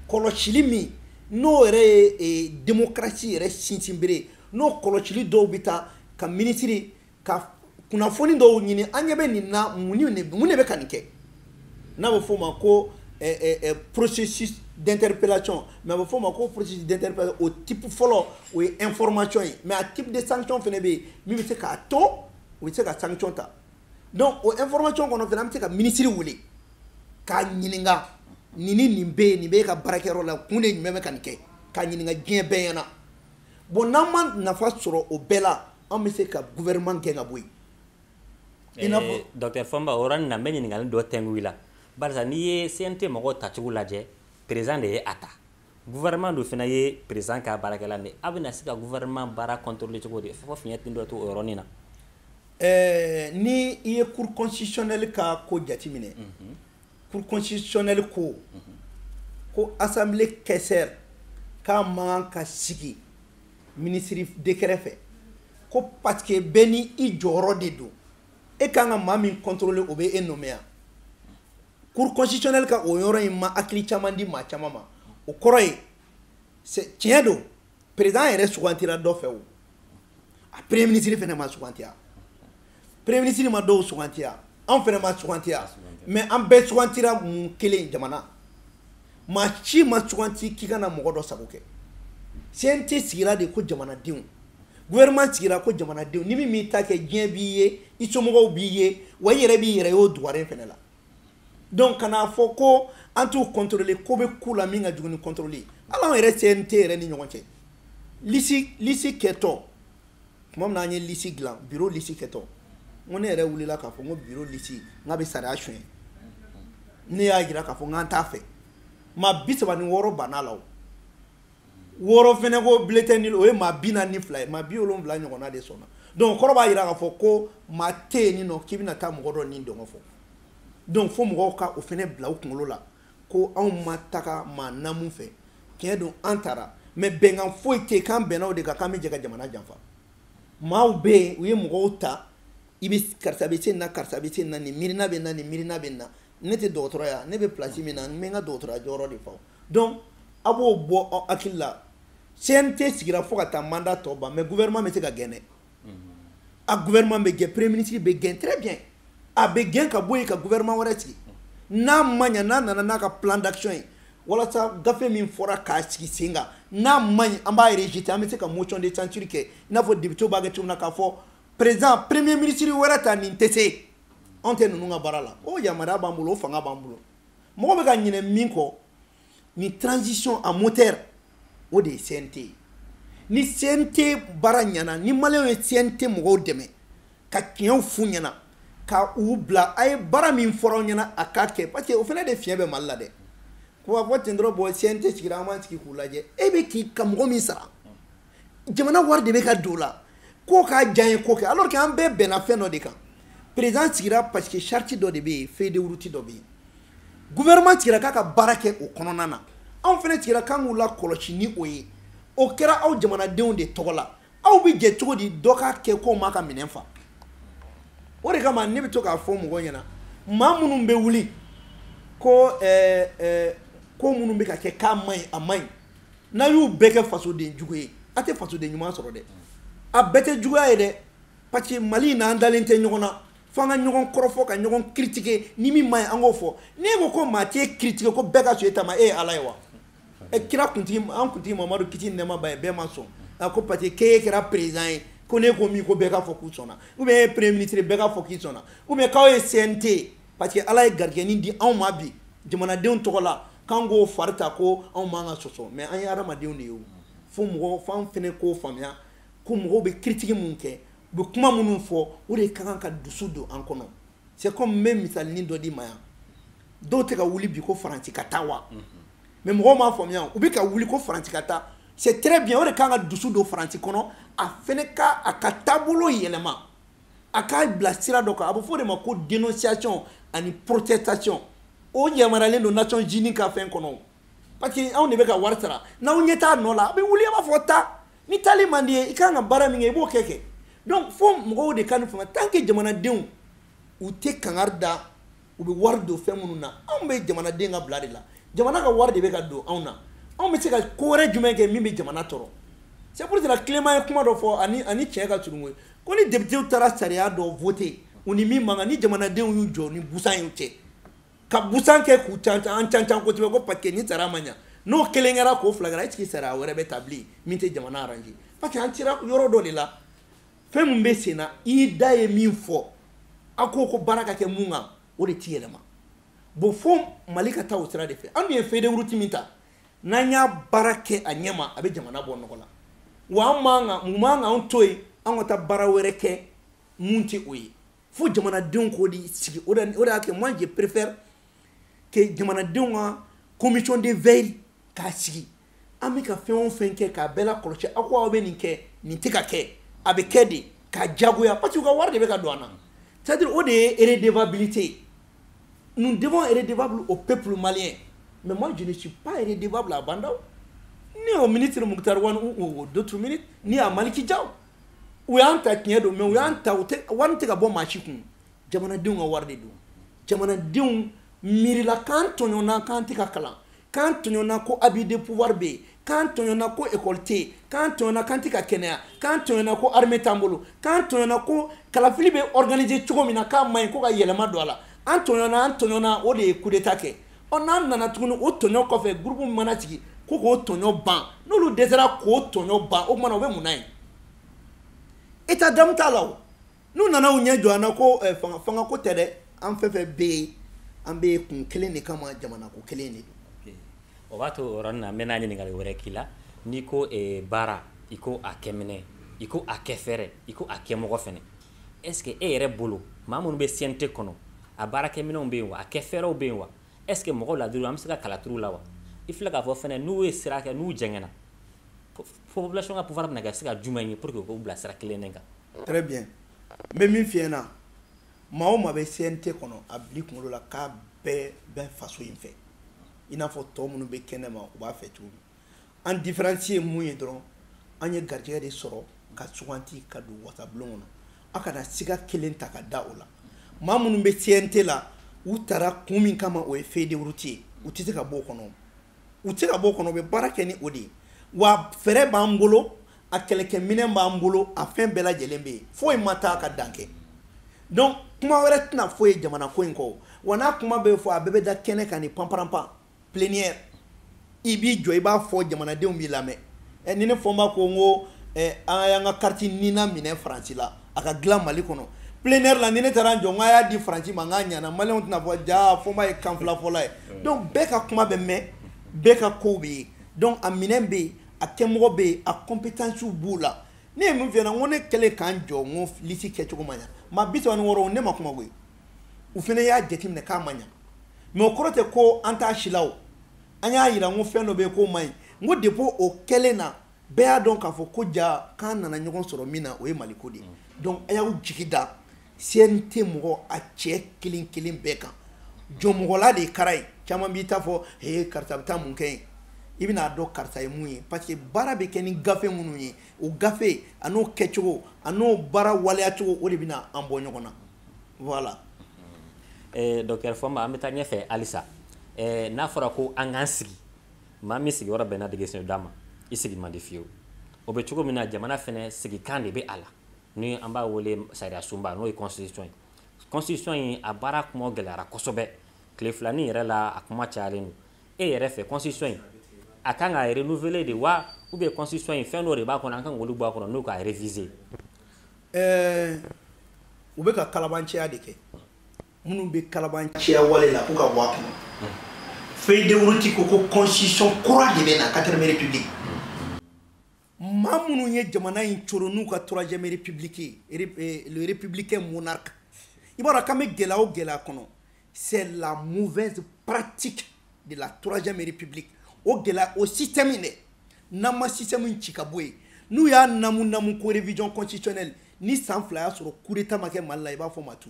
Speaker 2: kɔlɔsili min n'o yɛrɛ ye e, démocratie yɛrɛ sinsinbere n'o kɔlɔsili dɔw bɛ taa ka minisiri ka kunnafoni dɔw ɲini an ɲɛ bɛ nin na mun de bɛ ka nin kɛ n'a bɛ f'o ma ko processus d'interpellation mais a bɛ o type fɔlɔ o ye information ye mais a type de sanction fɛnɛ bɛ yen min bɛ se k'a to u bɛ se ka sanction ta. donc o information kɔnɔ fana an bɛ se ka minisiri wele k'a ɲininka nin ni nin bɛ yen nin bɛ e ka baarakɛyɔrɔ la kun de jumɛn bɛ ka nin kɛ k'a ɲininka diɲɛ bɛɛ ɲɛna bon n'an ma nafa sɔrɔ o bɛɛ la an bɛ se ka gouvernement gɛn ka bɔ yen.
Speaker 1: docteur Fomba o yɔrɔnin na n bɛ ɲininkali dɔ tɛngu i la barisa n'i ye CNT mɔgɔw tacogo lajɛ président de ye a ta. gouvernement dun fana ye président ka baarakɛla de aw bɛna se ka gouvernement baara contrôler cogo di fo fiɲɛ tɛ dɔ to o yɔrɔnin na ɛɛ ni
Speaker 2: i ye cour constitutionnelle ka ko jateminɛ mhm. cour constitutionnelle ko mhm. ko assemblée questeur k'a man ka sigi ministre décret fɛ ko parce que bɛɛ ni i jɔyɔrɔ de don e kan ka maa min contrôler o bɛ e nommer yan cour constitutionnelle ka o yɔrɔ in ma hakili caman di maa caman ma o kɔrɔ ye tiɲɛ don président yɛrɛ sugantira dɔ fɛ o a premier ministre fɛnɛ ma sugantiya premier ministre ma dɔw sugantiya anw fɛnɛ ma sugantiya mais an bɛɛ sugantira mun kelen jamana maa si ma suganti k'i ka na mɔgɔ dɔ sago kɛ cnt sigira de ko jamanadenw gouvernement sigira ko jamanadenw ni min m'i ta kɛ diɲɛ b'i ye i somɔgɔw b'i ye wa i yɛrɛ b'i yɛrɛ y'o dugaren fɛnɛ la donc kan'a fɔ ko an t'u contrôler ko bɛ ku la min ka jugu ni contrôle ye hali anw yɛrɛ cnt yɛrɛ ni ɲɔgɔn cɛ lisi lisi kɛtɔ tuma min na an ye lisi dilan biro lisi kɛtɔ n ko ne yɛrɛ wulila k'a fɔ n ko biro lisi n k'a bɛ sariya suɲɛ ne y'a jira k'a fɔ n k'an t'a fɛ maa bi saba ni wɔɔrɔ banna a la o wɔɔrɔ fɛnɛ ko bulletin nul o ye maa bi naani ni fila ye maa bi wolonwula ɲɔgɔnna de sɔnna donc kɔrɔ b'a jira k'a fɔ ko maa tɛ yen nin nɔ k'i bɛna taa mɔgɔ dɔ ni dungɔ fɔ donc fo mɔgɔw ka o fɛnɛ bila u kunkolo la ko anw ma taga maa namu fɛ tiɲɛ don an taara mais bɛnkan foyi tɛ k'an bɛnna o de kan k'an bɛ jɛ ka jamana janfa maaw bɛ yen u ye mɔgɔw ta i bɛ karisa bɛ se nin na karisa bɛ se nin na nin miirina bɛ na nin miirina bɛ na ne tɛ dɔgɔtɔrɔya ne bɛ place min na n bɛ n ka dɔgɔtɔrɔya jɔyɔrɔ de fa donc a b'o bɔ aw hakili la CNT sigira fo ka taa mandat tɔ ban mais gouvernement bɛ se ka gɛn dɛ a gouvernement bɛ gɛn premier ministre bɛ gɛn très bien a bɛ gɛn ka bɔ yen ka gouvernement wɛrɛ sigi n'a ma ɲa n'a nana n'a ka plan d'action ye walasa gafe min fɔra k'a sigi sen kan n'a man ɲi an b'a rejeter an bɛ se ka motion de censure kɛ i n'a fɔ députéw b'a kɛ cogo min na k'a fɔ président premier ministre wɛrɛ ta nin tɛ se anw tɛ ninnu ka baara la o yamaruya b'an bolo o fanga b'an bolo mɔgɔ bɛ ka ɲinɛ min kɔ nin transition in moteur o de ye CNT ye ni CNT baara ɲana ni maliyɛnw ye CNT mɔgɔw dɛmɛ ka tiɲɛw f'u ɲɛna ka u bila a ye baara min fɔra aw ɲɛna a k'a kɛ parce que o fana de fiɲɛ bɛ mali la dɛ k'u b'a fɔ ten dɔrɔn bon CNT sigira an b'an sigi k'u lajɛ e bɛ k'i ka mɔgɔ min sara jamana wari de bɛ ka don o la k'o k'a diyanyeko kɛ alors que an bɛɛ bɛnna fɛn dɔ de kan président sigira parce que charte dɔ de bɛ yen feuille de route dɔ bɛ yen gouvernement sigira k'a ka baara kɛ o kɔnɔna na anw fana sigira k'an k'u lakɔlɔsi ni o ye o kɛra aw jamanadenw de tɔgɔ la aw bɛ jɛ cogo di dɔ k'a kɛ k'o m'a ka minɛn fa o de kama ne bɛ to k'a fɔ mɔgɔw ɲɛna maa minnu bɛ wuli ko ɛɛ ɛɛ ko minnu bɛ ka kɛ k'a man ɲi a man ɲi n'a y'u bɛɛ kɛ fasoden jugu ye a tɛ fasoden ɲuman sɔrɔ dɛ a bɛɛ tɛ juguya ye dɛ parce que mali in na an dalen tɛ ɲɔgɔn na fo an ka ɲɔgɔn kɔrɔfɔ ka ɲɔgɔn critiquer ni min man ɲi an k'o fɔ n'e ko ko maa t'e critiquer ko bɛɛ ka sɔn e ta ma e ye ala ye wa e kira kuntigi an kuntigi mamadu kisi ni nɛɛma b'a ye bɛɛ ma sɔn a ko parce que k'e kɛra président ye ko ne ko min ko bɛɛ ka fɔ k'u sɔnna ou bien e premier ministre bɛɛ ka fɔ k'i sɔnna ou bien k'aw ye CNT parce que ala ye garijɛgɛnin di anw ma bi jamanadenw tɔgɔ la k'an k'o fari ta ko anw man ka sɔsɔ mais an ye adamadenw de ye o fo mɔgɔ f'an fɛnɛ k'o faamuya ko mɔgɔw bɛ critique min kɛ u bɛ kuma minnu fɔ o de ka kan ka dusu don an kɔnɔ c'est comme n bɛ misalinin dɔ di ma yan dɔw tɛ ka wuli bi ko faransi ka taa wa mais mɔgɔw m'a faamuya u bɛ ka wuli ko faransi ka taa c'est très bien o de ka kan ka dusu don faransi kɔnɔ a fɛnɛ ka a ka taabolo yɛlɛma a k'a bila sira dɔ kan a bɛ fɔ o de ma ko dénonciation ani protestation o yamaruyalen don nations unies ka fɛn kɔnɔ parce que anw de bɛ ka wari sara n'aw ɲɛ t'a nɔ la a bɛ wuli a b'a fɔ taa ni taali man d'i ye i kan ka baara min kɛ i b'o kɛ kɛ donc fo mɔgɔw de ka nin faamuya tant que jamanadenw u tɛ kangari da u bɛ wari don fɛn minnu na anw bɛ jamanaden ka bila de la jamana ka wari de bɛ ka don anw na anw bɛ se ka ko wɛrɛ jumɛn kɛ min bɛ jamana tɔɔrɔ c'est pour cela Clément ye kuma dɔ fɔ ani tiɲɛ ka surun ko ni députéw taara sariya dɔ voter u ni min man kan ni jamanadenw y'u jɔ ni busan y'u cɛ ka busan kɛ k'u ca an ca ca kosɛbɛ ko parce que ni taara ma ɲɛ n'o kelen kɛra k'o fila kɛra est ce que sariya wɛrɛ bɛ ta bilen min tɛ jamana arranger parce que an sera yɔrɔ dɔ de la fɛn min bɛ sen na i da ye min fɔ a ko ko baara ka kɛ mun kan o de t'i yɛlɛma bon fo mali ka taa o sira de fɛ an dun ye feuille de route min ta n'an y'a baara kɛ a ɲɛma a bɛ jamana bɔ nɔgɔ la wa an man kan mun man kan anw to yen an ka taa baara wɛrɛ kɛ mun tɛ o ye fo jamanadenw k'o de sigi o de o de y'a kɛ moi je préfère que jamanadenw ka commission de veille k'a sigi an bɛ ka fɛn o fɛn kɛ k'a bɛɛ lakɔlɔsi aw ko aw bɛ nin kɛ nin tɛ ka kɛ a bɛ kɛ de ka jagoya parce que u ka wari de bɛ ka don an na c'est à dire o de ye redevabilité ye nous devons être redevables au peuple malien mais moi je ne suis pas redevable à Ba Ndaw ni au ministre Mukutari Wani ou aux d'autres ministres ni à Maliki Jaw u y'an ta tiɲɛ don mais u y'an ta u tɛ wari tɛ ka bɔ maa si kun jamanadenw ka wari de don jamanadenw miirila k'an tɔɲɔna k'an tɛ ka kalan k'an tɔɲɔna ko abus de pouvoir bɛ yen k'an tɔɲɔna ko ekɔli tɛ yen k'an tɔɲɔna k'an tɛ ka kɛnɛya k'an tɔɲɔna ko armée t'an bolo k'an tɔɲɔna ko kalafili bɛ organiser cogo min na k'a man ɲi ko ka yɛlɛma don a la an tɔɲɔna an tɔɲɔna o de ye coup d'état kɛ ɔ n'an nana tuguni o tɔɲɔ kɔfɛ groupe min mana sigi ko k'o tɔɲɔ ban n'olu dɛsɛra k'o tɔɲɔ ban o tuma na o bɛ mun na yen état d'âme t'a la o n'u nana u ɲɛ jɔ an na ko eh, fanga fanga ko tɛ dɛ an fɛn fɛn bɛ yen an bɛ kun kelen de kama jamana ko kelen de don. o b'a to o
Speaker 1: yɔrɔnin na n bɛna ɲininkali wɛrɛ k'i la n'i ko eh, baara i ko a kɛminɛ i ko a kɛfɛɛrɛ i ko a kɛmɔgɔ fɛnɛ est ce que e yɛrɛ bolo maa minnu bɛ cnt kɔnɔ a baarakɛminɛnw bɛ yen wa a kɛfɛɛrɛw bɛ yen wa est ce que mɔgɔ ladiriw an bɛ se ka kala turu la wa i filɛ k'a fɔ fɛnɛ n'u ye sira kɛ n'u jɛngɛna population ka pouvoir bɛna kɛ se ka jumɛn ye pour que u k'u bila sira kelen de kan très
Speaker 2: bien n bɛ min f'i ɲɛna maa o maa bɛ cnt kɔnɔ a bil'i kunkolo la k'a bɛɛ bɛ faso in fɛ i n'a fɔ tɔ minnu bɛ kɛnɛ ma u b'a fɛ cogo min an diferansi ye mun ye dɔrɔn an ye garijɛgɛ de sɔrɔ ka suganti ka don wasabulon kɔnɔ a kana siga kelen ta ka da o la maa minnu bɛ cnt la u taara kun min kama o ye feuille de route ye u tɛ se ka bɔ o kɔnɔ u tɛ se ka bɔ o kɔnɔ u bɛ baara kɛ ni o de ye wa fɛɛrɛ b'an bolo a kɛlɛkɛminɛn b'an bolo a fɛn bɛɛ lajɛlen bɛ yen foyi ma taa ka dan kɛ donc kuma wɛrɛ tɛna fɔ yen jamana ko in kɔ wa n'a kuma bɛ fɔ a bɛɛ bɛ da kɛnɛ kan ni panparanpan plénière i b'i jɔ i b'a fɔ jamanadenw b'i lamɛn ɛ ni ne fɔnba ko n ko ɛ an y'an ka kariti nina minɛ faransi la a ka dilan mali kɔnɔ plénière la ni ne taara n jɔ n ko a y'a di faransi ma n k'a ɲana maliyɛnw tɛna fɔ jaa fɔnba ye kan fila fɔla ye donc bɛɛ ka kuma bɛ mɛn bɛɛ ka kow bɛ ye donc a minɛn bɛ yen a kɛmɔgɔ bɛ yen a kɔnpetansiw b'u la ne ye min f'i ɲɛna n ko ne kɛlen ka n jɔ n ko lisi kɛcogo ma ɲa maa bi saba ni wɔɔrɔ ne ma kuma koyi u fana y'a jateminɛ k'a ma ɲa mais o kɔrɔ tɛ ko an t'a si la o an y'a yira n ko fɛn dɔ bɛ yen k'o man ɲi n ko depuis o kɛlen na bɛɛ y'a dɔn k'a fɔ ko jaa k'an nana ɲɔgɔn sɔrɔ min na o ye maliko de ye donc a y'aw jigi da CNT mɔgɔ a cɛ kelen kelen bɛɛ kan jɔnmɔgɔla de ye kara ye caman bɛ t'a fɔ he karisa bɛ taa mun kɛ yen i bɛna'a dɔn karisa ye mun ye parce que baara bɛ kɛ ni gafe minnu ye o gafe a n'o kɛcogo a n'o baara waleyacogo o de bɛna an bɔ ɲɔgɔn na
Speaker 1: voilà eh, docteur Fɔnba an bɛ taa ɲɛfɛ halisa eh, n'a fɔra ko an k'an sigi maa min sigiyɔrɔ bɛnna degesen d'a ma i sigi man di fiyewu o bɛ cogo min na jamana fana sigikan de bɛ a la ni an b'a wele sariyasunba n'o ye constitution ye constitution in a baara kuma gɛlɛyara kosɛbɛ tile filanin yɛrɛ la a kuma cayalen don e yɛrɛ fɛ constitution in a kan ka renouveler de wa ou bien constitution in fɛn dɔ de b'a kɔnɔ an kan k'olu bɔ a kɔnɔ n'o k'a réviser
Speaker 2: ɛɛ u bɛ ka kalabanciya de kɛ minnu bɛ kalabanciya wale la k'u ka bɔ a kɔnɔ feuille de route ko ko constitution kura de bɛ na quatrième république maa minnu ye jamana in coron n'u ka troisième république eh, le républicain monarque i b'a dɔn k'an bɛ gɛlɛya o gɛlɛya kɔnɔ c'est la mauvaise pratique de la troisième république o gɛlɛya o système in dɛ n'an ma système in ci ka bɔ yen n'u y'a namu namu ko révision constitutionnelle ni san fila y'a sɔrɔ coup d'état ma kɛ mali la i b'a fɔ n ma tu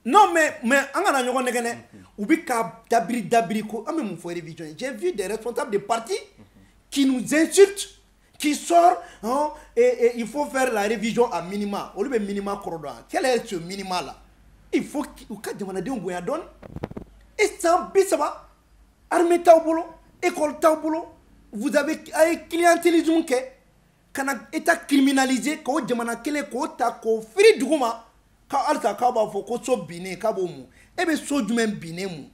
Speaker 2: non mais mais an kana ɲɔgɔn nɛgɛn dɛ u bɛ ka dabiri dabiri ko an bɛ mun fɔ révision ye j'ai vu des responsables de parti qui nous insultent qui sort hein, et, il faut faire la révision à minima olu bɛ minima kɔrɔ dɔn quel est ce minima là il faut u ka jamanadenw bonya dɔɔni e san bi saba armée t'aw bolo école t'aw bolo vous avez a ye clientélisme kɛ ka na état criminalisé k'o jamana kelen k'o ta k'o firi duguma ka tila k'aw b'a fɔ ko so binnen k'a b'o mun e bɛ so jumɛn binnen mun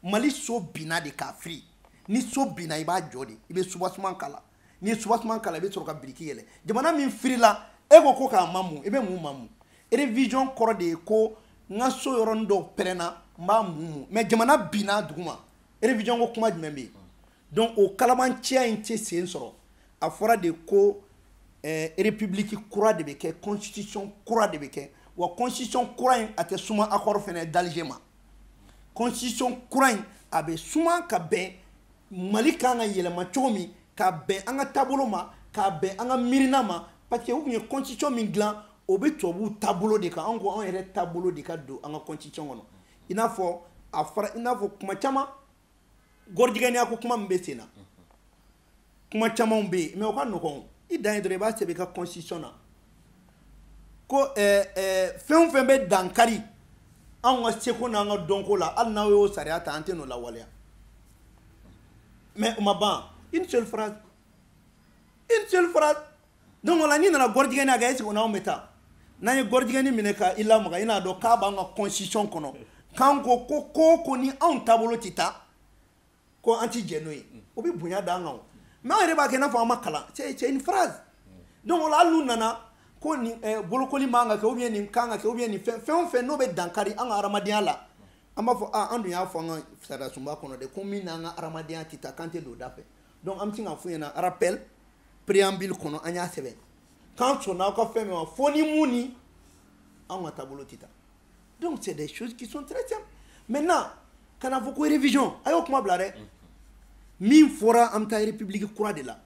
Speaker 2: mali so binna de ka firi ni so binna i b'a jɔ de i bɛ soubassement kala n'i ye soubassement kala i bɛ sɔrɔ ka biriki yɛlɛn jamana min firila e ko ko k'a mamu i bɛ mun mamu révision kɔrɔ de ye ko n ka so yɔrɔnin dɔw pɛrɛnna n b'a mumu mais jamana binna duguma révision ko kuma jumɛn bɛ yen donc o kalabaanciya in tɛ sen sɔrɔ a fɔra de ko eh, république kura de bɛ kɛ constitution kura de bɛ kɛ wa constitution kura in a tɛ suma accord fana d'Alger ma constitution kura in a bɛ suma ka bɛn mali kan ka yɛlɛma cogo min ka bɛn an ka taabolo ma ka bɛn an ka miirina ma parce que u tun ye constitution min dilan o bɛ tubabuw taabolo de kan anw ko anw yɛrɛ taabolo de ka don an ka constitution kɔnɔ i n'a fɔ a fɔra i n'a fɔ kuma caman gɔrijigɛniya ko kuma min bɛ sen na kuma camanw bɛ yen mais o ka nɔgɔn i dan ye dɔrɔn i b'a sɛbɛn i ka constitution na ko eh, eh, fɛn o fɛn bɛ dankari anw ka seko n'an ka dɔnko la hali n'aw y'o sariya ta an tɛ n'o lawaleya mais o ma ban une seule phrase une seule phrase donc o la n'i nana gɔrijigɛniya kɛ est-ce que n'anw bɛ taa n'an ye gɔrijigɛni minɛ ka i lamaga i n'a dɔn k'a b'an ka constitution kɔnɔ k'an ko ko ko ko ni anw taabolo tɛ taa ko an tɛ jɛn n'o ye o bɛ bonya d'an kan o mais anw yɛrɛ b'a kɛ i n'a fɔ an ma kalan c'est une phrase donc o la hali n'u nana ko nin eh, bolokoli man ka kɛ ou bien nin kan ka kɛ ou bien nin fɛn fɛn o fɛn n'o bɛ dankari an ka hadamadenya la an b'a fɔ a ah, an dun y'a fɔ an ka sariyasunba kɔnɔ de ko min n'an ka hadamadenya tɛ taa k'an tɛ don o da fɛ donc an bɛ se k'a f'u ɲɛna rappel préambule kɔnɔ an y'a sɛbɛn k'an sɔnna aw ka fɛn min ma fo ni mun ni anw ka taabolo tɛ taa donc c'est des choses qui sont très simples maintenant ka na fɔ ko révision a y'o kuma bila dɛ min fɔra an bɛ taa république kura de la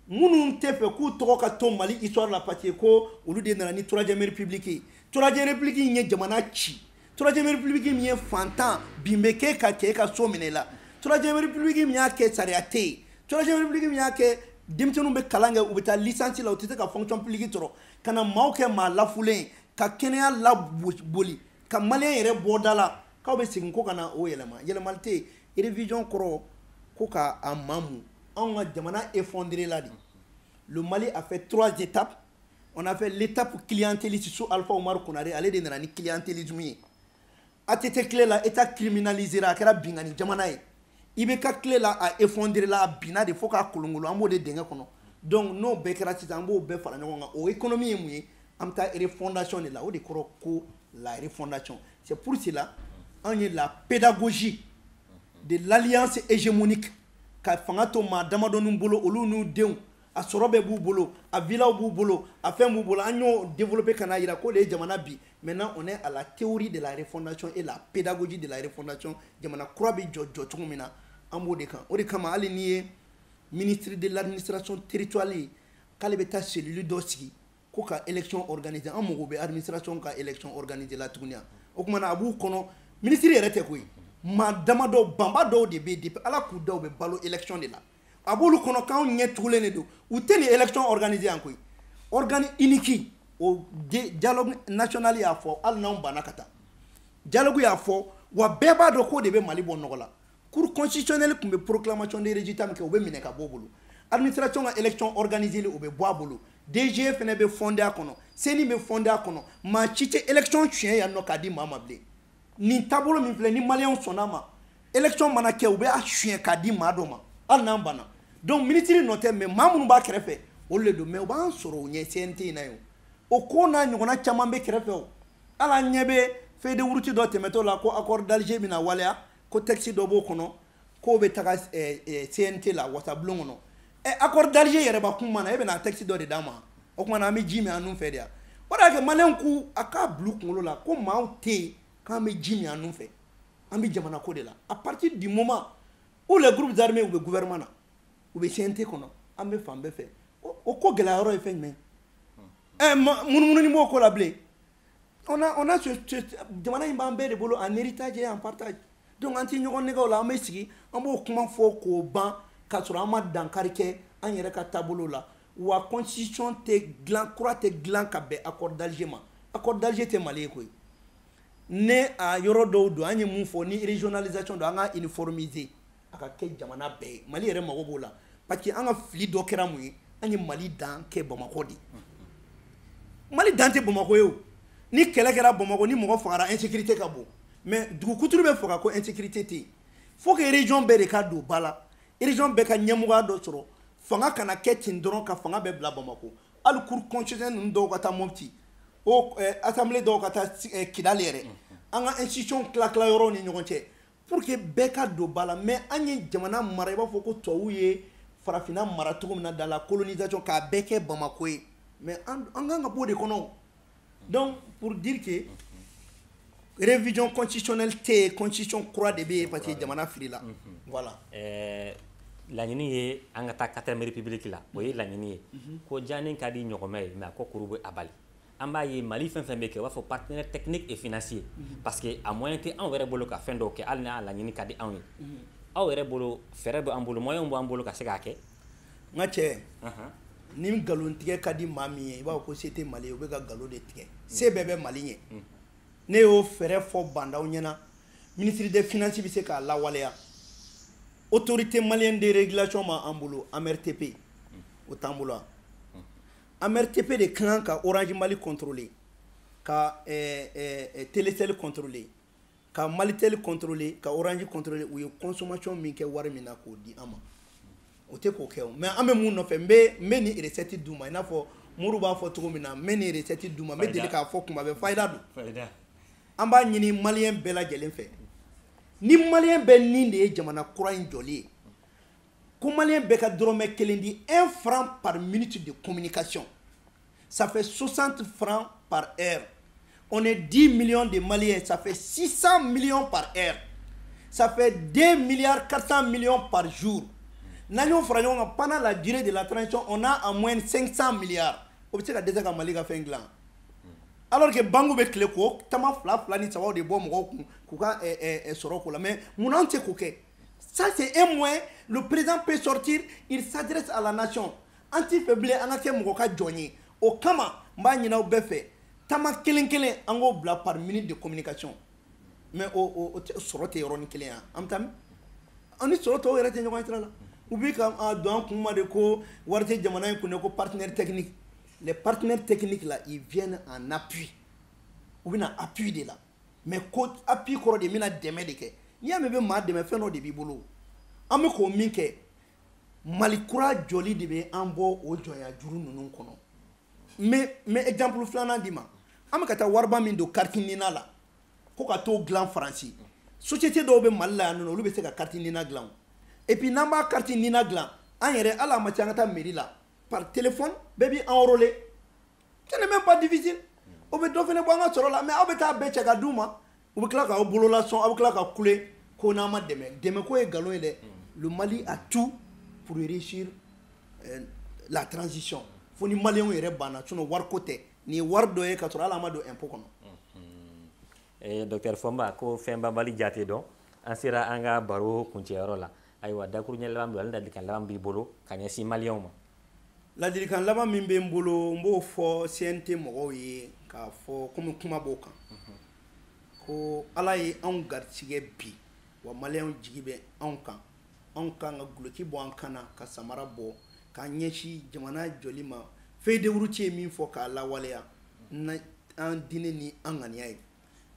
Speaker 2: minnu tɛ fɛ k'u tɔgɔ ka to mali histoire la parce que ko olu de nana ni troisième république ye troisième république in ye jamana ci troisième république min ye fantan bin bɛ k'e ka cɛ e ka so minɛ la troisième république min y'a kɛ sariya tɛ yen troisième république min y'a kɛ denmisɛnninw bɛ kalan kɛ u bɛ taa licence la u tɛ se ka fonction publique sɔrɔ ka na maaw kɛ maa lafulen ka kɛnɛya laboli ka maliyɛn yɛrɛ bɔ da la k'aw bɛ segin ko ka na o yɛlɛma yɛlɛmali tɛ yen révision kɔrɔ ko ka a mamu anw ka jamana effondré la de le Mali a fait trois étapes on a fait l'étape clientéliste sous Alpha Oumar Konare, ale de nana ni clientélisme ye. ATT tile la état criminalisé la kɛra binkanni jamana ye. IBK tile la a effondré la binna de fo ka kolonkolon an b'o de dingɛ kɔnɔ. Donc n'o bɛɛ kɛra sisan an b'o bɛɛ fara ɲɔgɔn kan o économie ye mun ye an bɛ taa refondation de la o de kɔrɔ ko la refondation c'est pour cela anw ye la pédagogie de l'alliance hégémonique ka fanga to maa damadɔninw bolo olu n'u denw a sɔrɔ bɛɛ b'u bolo a vilaw b'u bolo a fɛn b'u bolo an y'o développer ka n'a yira k'o de ye jamana bin maintenant on est à la théorie de la refondation et la pédagogie de la refondation jamana kura bɛ jɔ jɔ cogo min na an b'o de kan o de kama hali n'i ye ministre de l'administration territoriale ye k'ale bɛ taa cellule dɔ sigi ko ka élection organiser an mago bɛ administration ka élection organiser la tuguni o kuma na a b'u kɔnɔ minisiri yɛrɛ tɛ koyi maa damadɔ banba dɔw de bɛ depuis ala k'u da u bɛ balo élection de la a b'olu kɔnɔ k'anw ɲɛ tugulen de don u tɛ nin élection organiser yan koyi organe unique o dialogue national y'a fɔ hali n'anw banna ka taa dialogue y'a fɔ wa bɛɛ b'a dɔn k'o de bɛ mali bɔ nɔgɔ la cour constitutionnelle tun bɛ proclamation de résultat min kɛ o bɛ minɛ ka bɔ o bolo administration ka élection organiser li o bɛ bɔ a bolo DGE fana bɛ fondé a kɔnɔ CENI bɛ fondé a kɔnɔ maa si tɛ élection suɲɛ yan nɔ k'a di maa ma bilen nin taabolo min filɛ ni maliyɛnw sɔnna a ma élection mana kɛ u bɛ a suɲɛ k'a di maa dɔ ma hali n'an banna donc minisiri nɔ tɛ mais maa minnu b'a kɛrɛfɛ olu de don mais u b'an sɔrɔ u ɲɛ CNT in na yen o ko n'a ɲɔgɔnna caman bɛ kɛrɛfɛ o hali an ɲɛ bɛ feuille de route dɔ tɛmɛtɔ la ko accord d'Alger bɛna waleya ko texte dɔ b'o kɔnɔ k'o bɛ taga CNT la wasabulon kɔnɔ ɛ accord d'Alger yɛrɛ b'an kun mun na e bɛna texte dɔ de d'an ma o kuma na an bɛ ji min an nun fɛ de wa o de y'a kɛ maliyɛnw k'u a k'a bila u kunkolo la ko maaw tɛ yen k'an bɛ ji min an nun fɛ an bɛ jamana ko de la à partir du moment où les groupes armés u bɛ gouvernement na u bɛ CNT kɔnɔ an bɛ fan bɛɛ fɛ o ko gɛlɛya yɔrɔ ye fɛn jumɛn ye ɛ munumunu b'o ko la bilen on a on a ce, ce jamana in b'an bɛɛ de bolo en héritage et en partage donc an tɛ ɲɔgɔn nɛgɛn o la an bɛ sigi an b'o kuma fɔ k'o ban k'a sɔrɔ an ma dankari kɛ an yɛrɛ ka taabolo la wa constitution tɛ gilan kura tɛ gilan ka bɛn accord d'Alger ma accord d'Alger tɛ Mali ye koyi ni a yɔrɔ dɔw don an ye mun fɔ ni régionalisation don an ka uniformiser a ka kɛ jamana bɛɛ ye mali yɛrɛ mago b'o la parce que an ka fili dɔ kɛra mun ye an ye mali dan kɛ bamakɔ de mali dan tɛ bamakɔ ye ni kɛlɛ kɛra bamakɔ ni mɔgɔ fagara insécurité ka bon mais dugu kuturu bɛ faga ko insécurité tɛ yen faut que région bɛɛ de ka don ba la région bɛɛ ka ɲɛmɔgɔya dɔ sɔrɔ fanga kana kɛ ten dɔrɔn ka fanga bɛɛ bila bamakɔ hali cour constitutionnelle ninnu dɔw ka taa mɔpti o eh, assemblée dɔw ka taa eh, kidali yɛrɛ an ka institution tila tila yɔrɔw ni ɲɔgɔn cɛ pour que bɛɛ ka don ba la mais an ye jamana mara i b'a fɔ ko tubabuw ye farafinna mara cogo min na dans la colonisation k'a bɛɛ kɛ bamako ye mais an an kan ka b'o de kɔnɔ donc pour dire que révision constitutionnelle tɛ yen constitution kura de bɛ yen parce que jamana firila voilà. Euh,
Speaker 1: laɲini ye an ka taa quatrième république la o ye laɲini ye ko jaani ka di ɲɔgɔmɛ ye mais a kɔkuru bɛ a bali. an b'a ye mali fɛn fɛn bɛ kɛ u b'a fɔ partenaire technique et financier mhm. parce que a moyen tɛ anw yɛrɛ bolo ka fɛn dɔw kɛ hali n'a laɲini ka di anw ye mhm. aw yɛrɛ bolo fɛɛrɛ bɛ an bolo moyen b'an bolo ka se k'a kɛ nka cɛ
Speaker 2: ni nkalon tigɛ ka di maa min ye i b'a fɔ ko se tɛ mali ye u bɛ ka nkalon de tigɛ mhm. se bɛɛ bɛ mali ye ne y'o fɛɛrɛ fɔ ba ndaw ɲɛna ministre des finances bɛ se k'a lawaleya autorité malienne de régulation b'an bolo amrtp o t'an bolo wa amrtp de ka kan ka orange mali contrôler ka eh, eh, eh, telecel contrôler ka malitel contrôler ka orange contrôler u ye consommation min kɛ wari min na k'o di an ma o tɛ k'o kɛ o mais an bɛ mun nɔfɛ n bɛ n bɛ nin recette d'u ma i n'a fɔ muru b'a fɔ cogo min na n bɛ nin recette d'u ma n bɛ deli k'a fɔ kuma bɛɛ fayida don fayida an b'a ɲini maliyɛn bɛɛ lajɛlen fɛ ni maliyɛn bɛɛ nin de ye jamana kura in jɔli ye ko maliyɛn bɛɛ ka dɔrɔmɛ kelen di un franc par minute de communication ça fait 60 francs par heure on est 10 millions de maliens ça fait 600 millions par heure ça fait 2 milliards 400 millions par jour n'an y'o fara ɲɔgɔn kan pendant la durée de la transition on a en moyenne 500 milliards o bɛ se ka dɛsɛ ka mali ka fɛn dilan alors que banque bɛ tile k'o tama fila fila ni sabaw de bɔ mɔgɔw kun k'u ka sɔrɔ k'o la mais mun na anw tɛ k'o kɛ Ça, c'est un moyen, le président peut sortir, il s'adresse à la nation. An t'i fɛ bilen, an ka kɛ mɔgɔ ka jɔn ye. O kama, n b'a ɲin'aw bɛɛ fɛ, tama kelen kelen, an k'o bila par minute de communication. Mais o o o tɛ sɔrɔ tɛ yɔrɔnin kelen yan. An bɛ taa min? An ni sɔrɔ tɔw yɛrɛ tɛ ɲɔgɔn ye sira la. U bɛ ka a don an kun ma de ko wari tɛ jamana in kun dɛ ko partenaire technique. Les partenaires techniques là, ils viennent en appui. U bɛ na appui de la. mais ko appui kɔrɔ de bɛna dɛmɛ de kɛ n'i y'a mɛn bɛ maa dɛmɛ fɛn dɔ de b'i bolo an bɛ k'o min kɛ mali kura jɔli de bɛ an bɔ o jɔnya juru ninnu kɔnɔ mais n bɛ exemple filanan d'i ma an bɛ ka taa wariba min don carte nina la ko ka t'o dilan faransi société dɔw bɛ mali la yan nɔ olu bɛ se ka carte nina dilan et puis n'an b'a carte nina dilan an yɛrɛ hali a ma ca an ka taa mairie la par téléphone bɛɛ b'i enrôler ce n'est même pas difficile o bɛ dɔ fana bɔ an ka sɔrɔ la mais aw bɛ taa bɛɛ cɛ ka d'u ma u bɛ tila k'aw bolola sɔn aw bɛ tila ka kule ko n'an ma dɛmɛ dɛmɛko ye nkalon ye dɛ le mali a tout pour réussir euh, la transition fo ni maliyɛnw yɛrɛ banna sinon wariko tɛ nin ye wari dɔ ye ka sɔrɔ hali an ma don impôt kɔnɔ docteur fomba
Speaker 1: ko fɛnbanbali jate dɔn an sera an ka baro kuncɛyɔrɔ la ayiwa dakuruɲɛ laban bila ni ladilikan laban b'i bolo ka ɲɛsin maliyɛnw ma
Speaker 2: ladilikan laban min bɛ n bolo n b'o fɔ CNT mɔgɔw ye k'a fɔ komi kuma b'o kan mhm. ko ala ye anw garisigɛ bi wa maliyɛnw jigi bɛ anw kan an k'an ka guloki bɔ an kan na ka samara bɔ k'an ɲɛsin jamana jɔli ma feuille de route ye min fɔ k'a lawaleya an diinɛ ni an ŋaniya ye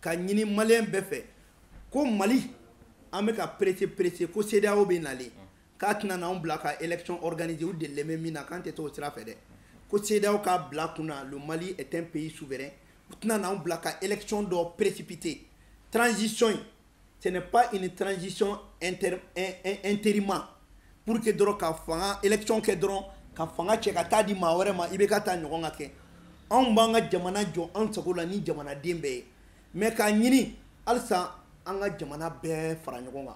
Speaker 2: ka ɲini maliyɛn bɛɛ fɛ ko mali an bɛ ka presser presser ko CEDEAO bɛ nalen k'a tɛna n'anw bila ka élection organiser u delilen bɛ min na k'an tɛ t'o sira fɛ dɛ ko CEDEAO k'a bila kun na le mali est un pays souverain u tɛna n'anw bila ka élection dɔ précipiter transition in ce n'est pas une transition inter, intérimaire pour que dɔrɔn ka fanga élection kɛ dɔrɔn ka fanga cɛ ka taa di maa wɛrɛ ma IBK ta ɲɔgɔn ka kɛ anw b'an ka jamana jɔ an sago la ni jamanaden bɛɛ ye mais k'a ɲini halisa an ka jamana bɛɛ fara ɲɔgɔn kan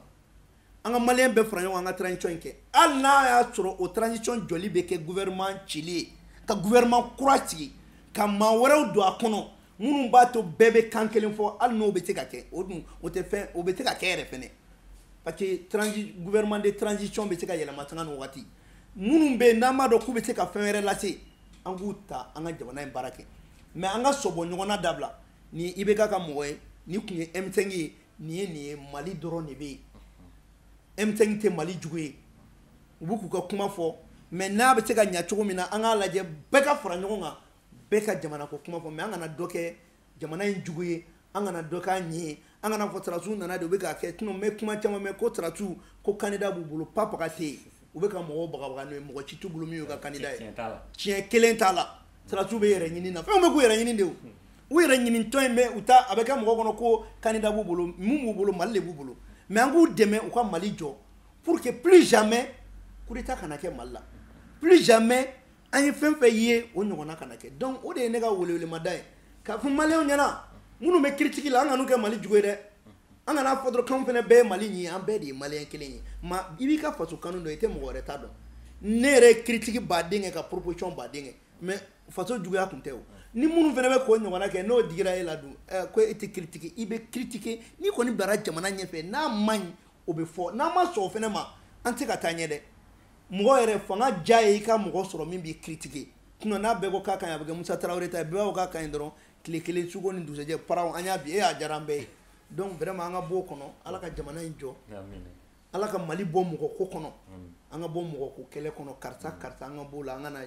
Speaker 2: an ka maliyɛn bɛɛ fara ɲɔgɔn kan an ka transition in kɛ hali n'a y'a sɔrɔ o transition jɔli bɛ kɛ gouvernement cili ye ka gouvernement kura sigi ka maa wɛrɛw don a kɔnɔ minnu b'a to bɛɛ bɛ kan kelen fɔ hali n'o bɛ se ka kɛ o dun o tɛ fɛn o bɛ se ka kɛ yɛrɛ fɛnɛ parce que transi gouvernement de transition bɛ se ka yɛlɛma sanga ni wagati minnu bɛ yen n'an b'a dɔn k'u bɛ se ka fɛn wɛrɛ lase an k'u ta an ka jamana in baara kɛ mais an ka sɔbɔ ɲɔgɔn na dabila nin IBK ka mɔgɔ ye nin tun ye M5 ye nin ye nin ye Mali dɔrɔn de bɛ yen M5 tɛ Mali jugu ye u bɛ k'u ka kuma fɔ mais n'a bɛ se ka ɲɛ cogo min na an k'a lajɛ bɛɛ ka fara ɲɔgɔn kan bɛɛ ka jamana ko kuma fɔ mais an kana dɔ kɛ jamana in jugu ye an kana dɔ k'a ɲi ye an kana fɔ sɔrɔdasiw nana de u bɛ k'a kɛ sinon n bɛ kuma caman mɛn ko sɔrɔdasiw ko candidat b'u bolo propagande ye u bɛ ka mɔgɔw bagabaga n'o ye mɔgɔ ci t'u bolo min y'u ka candidat ye tiɲɛ kelen t'a la sɔrɔdasiw b'u yɛrɛ ɲini na fɛnw bɛ k'u yɛrɛ ɲini de o u yɛrɛ ɲinitɔ in bɛ u ta a bɛ kɛ mɔgɔ kɔnɔ ko candidat b'u bolo mun b'u bolo mali de b'u bolo mais an k'u dɛmɛ u ka mali jɔ pour que plus jamais coup d'état kana kɛ mali la plus jamais an ye fɛn fɛn ye o ɲɔgɔnna kana kɛ donc o de ye ne ka welewelemada ye k'a fɔ maliyɛnw ɲɛna minnu bɛ critique la an kan'u kɛ mali jugu ye dɛ an kana fɔ dɔrɔn k'anw fana bɛɛ ye mali ɲi ye an bɛɛ de ye maliyɛn kelen ye mais i b'i ka faso kanu dɔn i tɛ mɔgɔ wɛrɛ ta dɔn ne yɛrɛ ye critique ba de kɛ ka proposition ba de kɛ mais faso juguya tun tɛ o ni minnu fana bɛ k'o ɲɔgɔnna kɛ n'o digira e la dun eh, ko e tɛ critiquer i bɛ critiquer n'i kɔni bilara jamana ɲɛfɛ n'a man ɲi o bɛ fɔ n'an ma sɔn o fana ma an tɛ ka taa ɲɛ dɛ mɔgɔ yɛrɛ fanga diya ye i ka mɔgɔ sɔrɔ min b'i critiquer sinon n'a bɛɛ ko k'a ka ɲi a bɛ kɛ Musa Tarawele ta ye bɛɛ b'a fɔ k'a ka ɲi dɔrɔn tile kelen suko ni dugusajɛ paraw an y'a bin e a diyara an bɛɛ ye donc vraiment an ka b'o kɔnɔ Ala ka jamana in jɔ Ala ka Mali bɔ mɔgɔ ko kɔnɔ an ka bɔ mɔgɔ ko kɛlɛ kɔnɔ karisa karisa an ka b'o la an ka na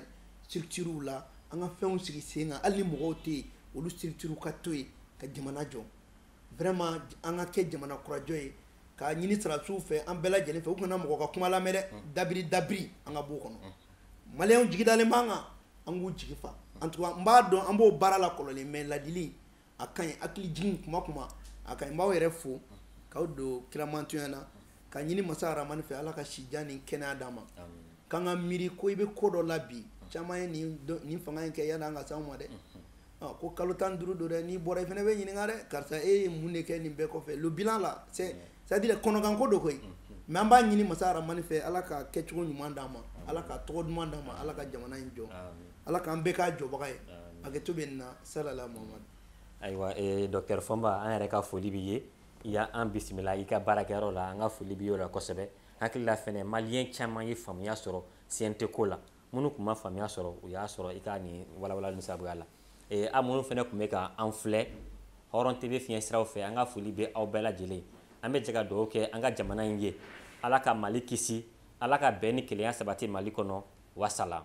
Speaker 2: structure la an ka fɛnw sigi sen kan hali ni mɔgɔw tɛ yen olu structure ka to yen ka jamana jɔ vraiment an ka kɛ jamana kurajɔ ye k'a ɲini sarasiw fɛ an bɛɛ lajɛlen fɛ u kana mɔgɔ ka kuma lamɛn dɛ dabiri dabiri an ka b'o kɔnɔ maliyɛnw jigi dalen b'an kan an k'u jigi fa en tout cas n b'a dɔn an b'o baara la kɔrɔlen mais ladili a ka ɲi hakili jigin kuma kuma a ka ɲi n b'aw yɛrɛ fo k'aw don kiramantonya na k'a ɲini masa rahamani fɛ ala ka sijan ni kɛnɛya d'an ma k'an ka miiri ko i bɛ ko dɔ la bi caman ye nin fanga in kɛ yanni a ka s'anw ma dɛ Ah, ko kalo tan ni duuru don dɛ n'i bɔra i fana bɛ ɲininka dɛ karisa e ye mun de kɛ nin bɛɛ kɔfɛ le bilan la c'est c'est à dire kɔnɔganko don koyi mais an b'a ɲini masa rahamani fɛ ala ka kɛcogo ɲuman d'an ma ala ka tɔgɔ duman d'an ma ala ka jamana in jɔ ala k'an bɛɛ k'a jɔbaga ye hakɛto bɛ nin na salala muhamadu ayiwa
Speaker 1: eh, docteur fɔnba an yɛrɛ ka foli b'i ye i y'an bisimila i ka baarakɛyɔrɔ la an ka foli b'i y'o la kosɛbɛ hakili la fɛnɛ maliyɛn caman ye faamuya sɔrɔ CNT ko la minnu tun ma faamuya sɔrɔ u y'a sɔrɔ i ka nin walawalali in sabuya la ee a minnu fɛnɛ tun bɛ ka an filɛ hɔrɔn TV fiɲɛ siraw fɛ an ka foli bɛ aw bɛɛ lajɛlen an bɛ jɛ ka dugawu kɛ an ka jamana in ye ala ka mali kisi ala ka bɛn ni kelenya sabati mali kɔnɔ wasalam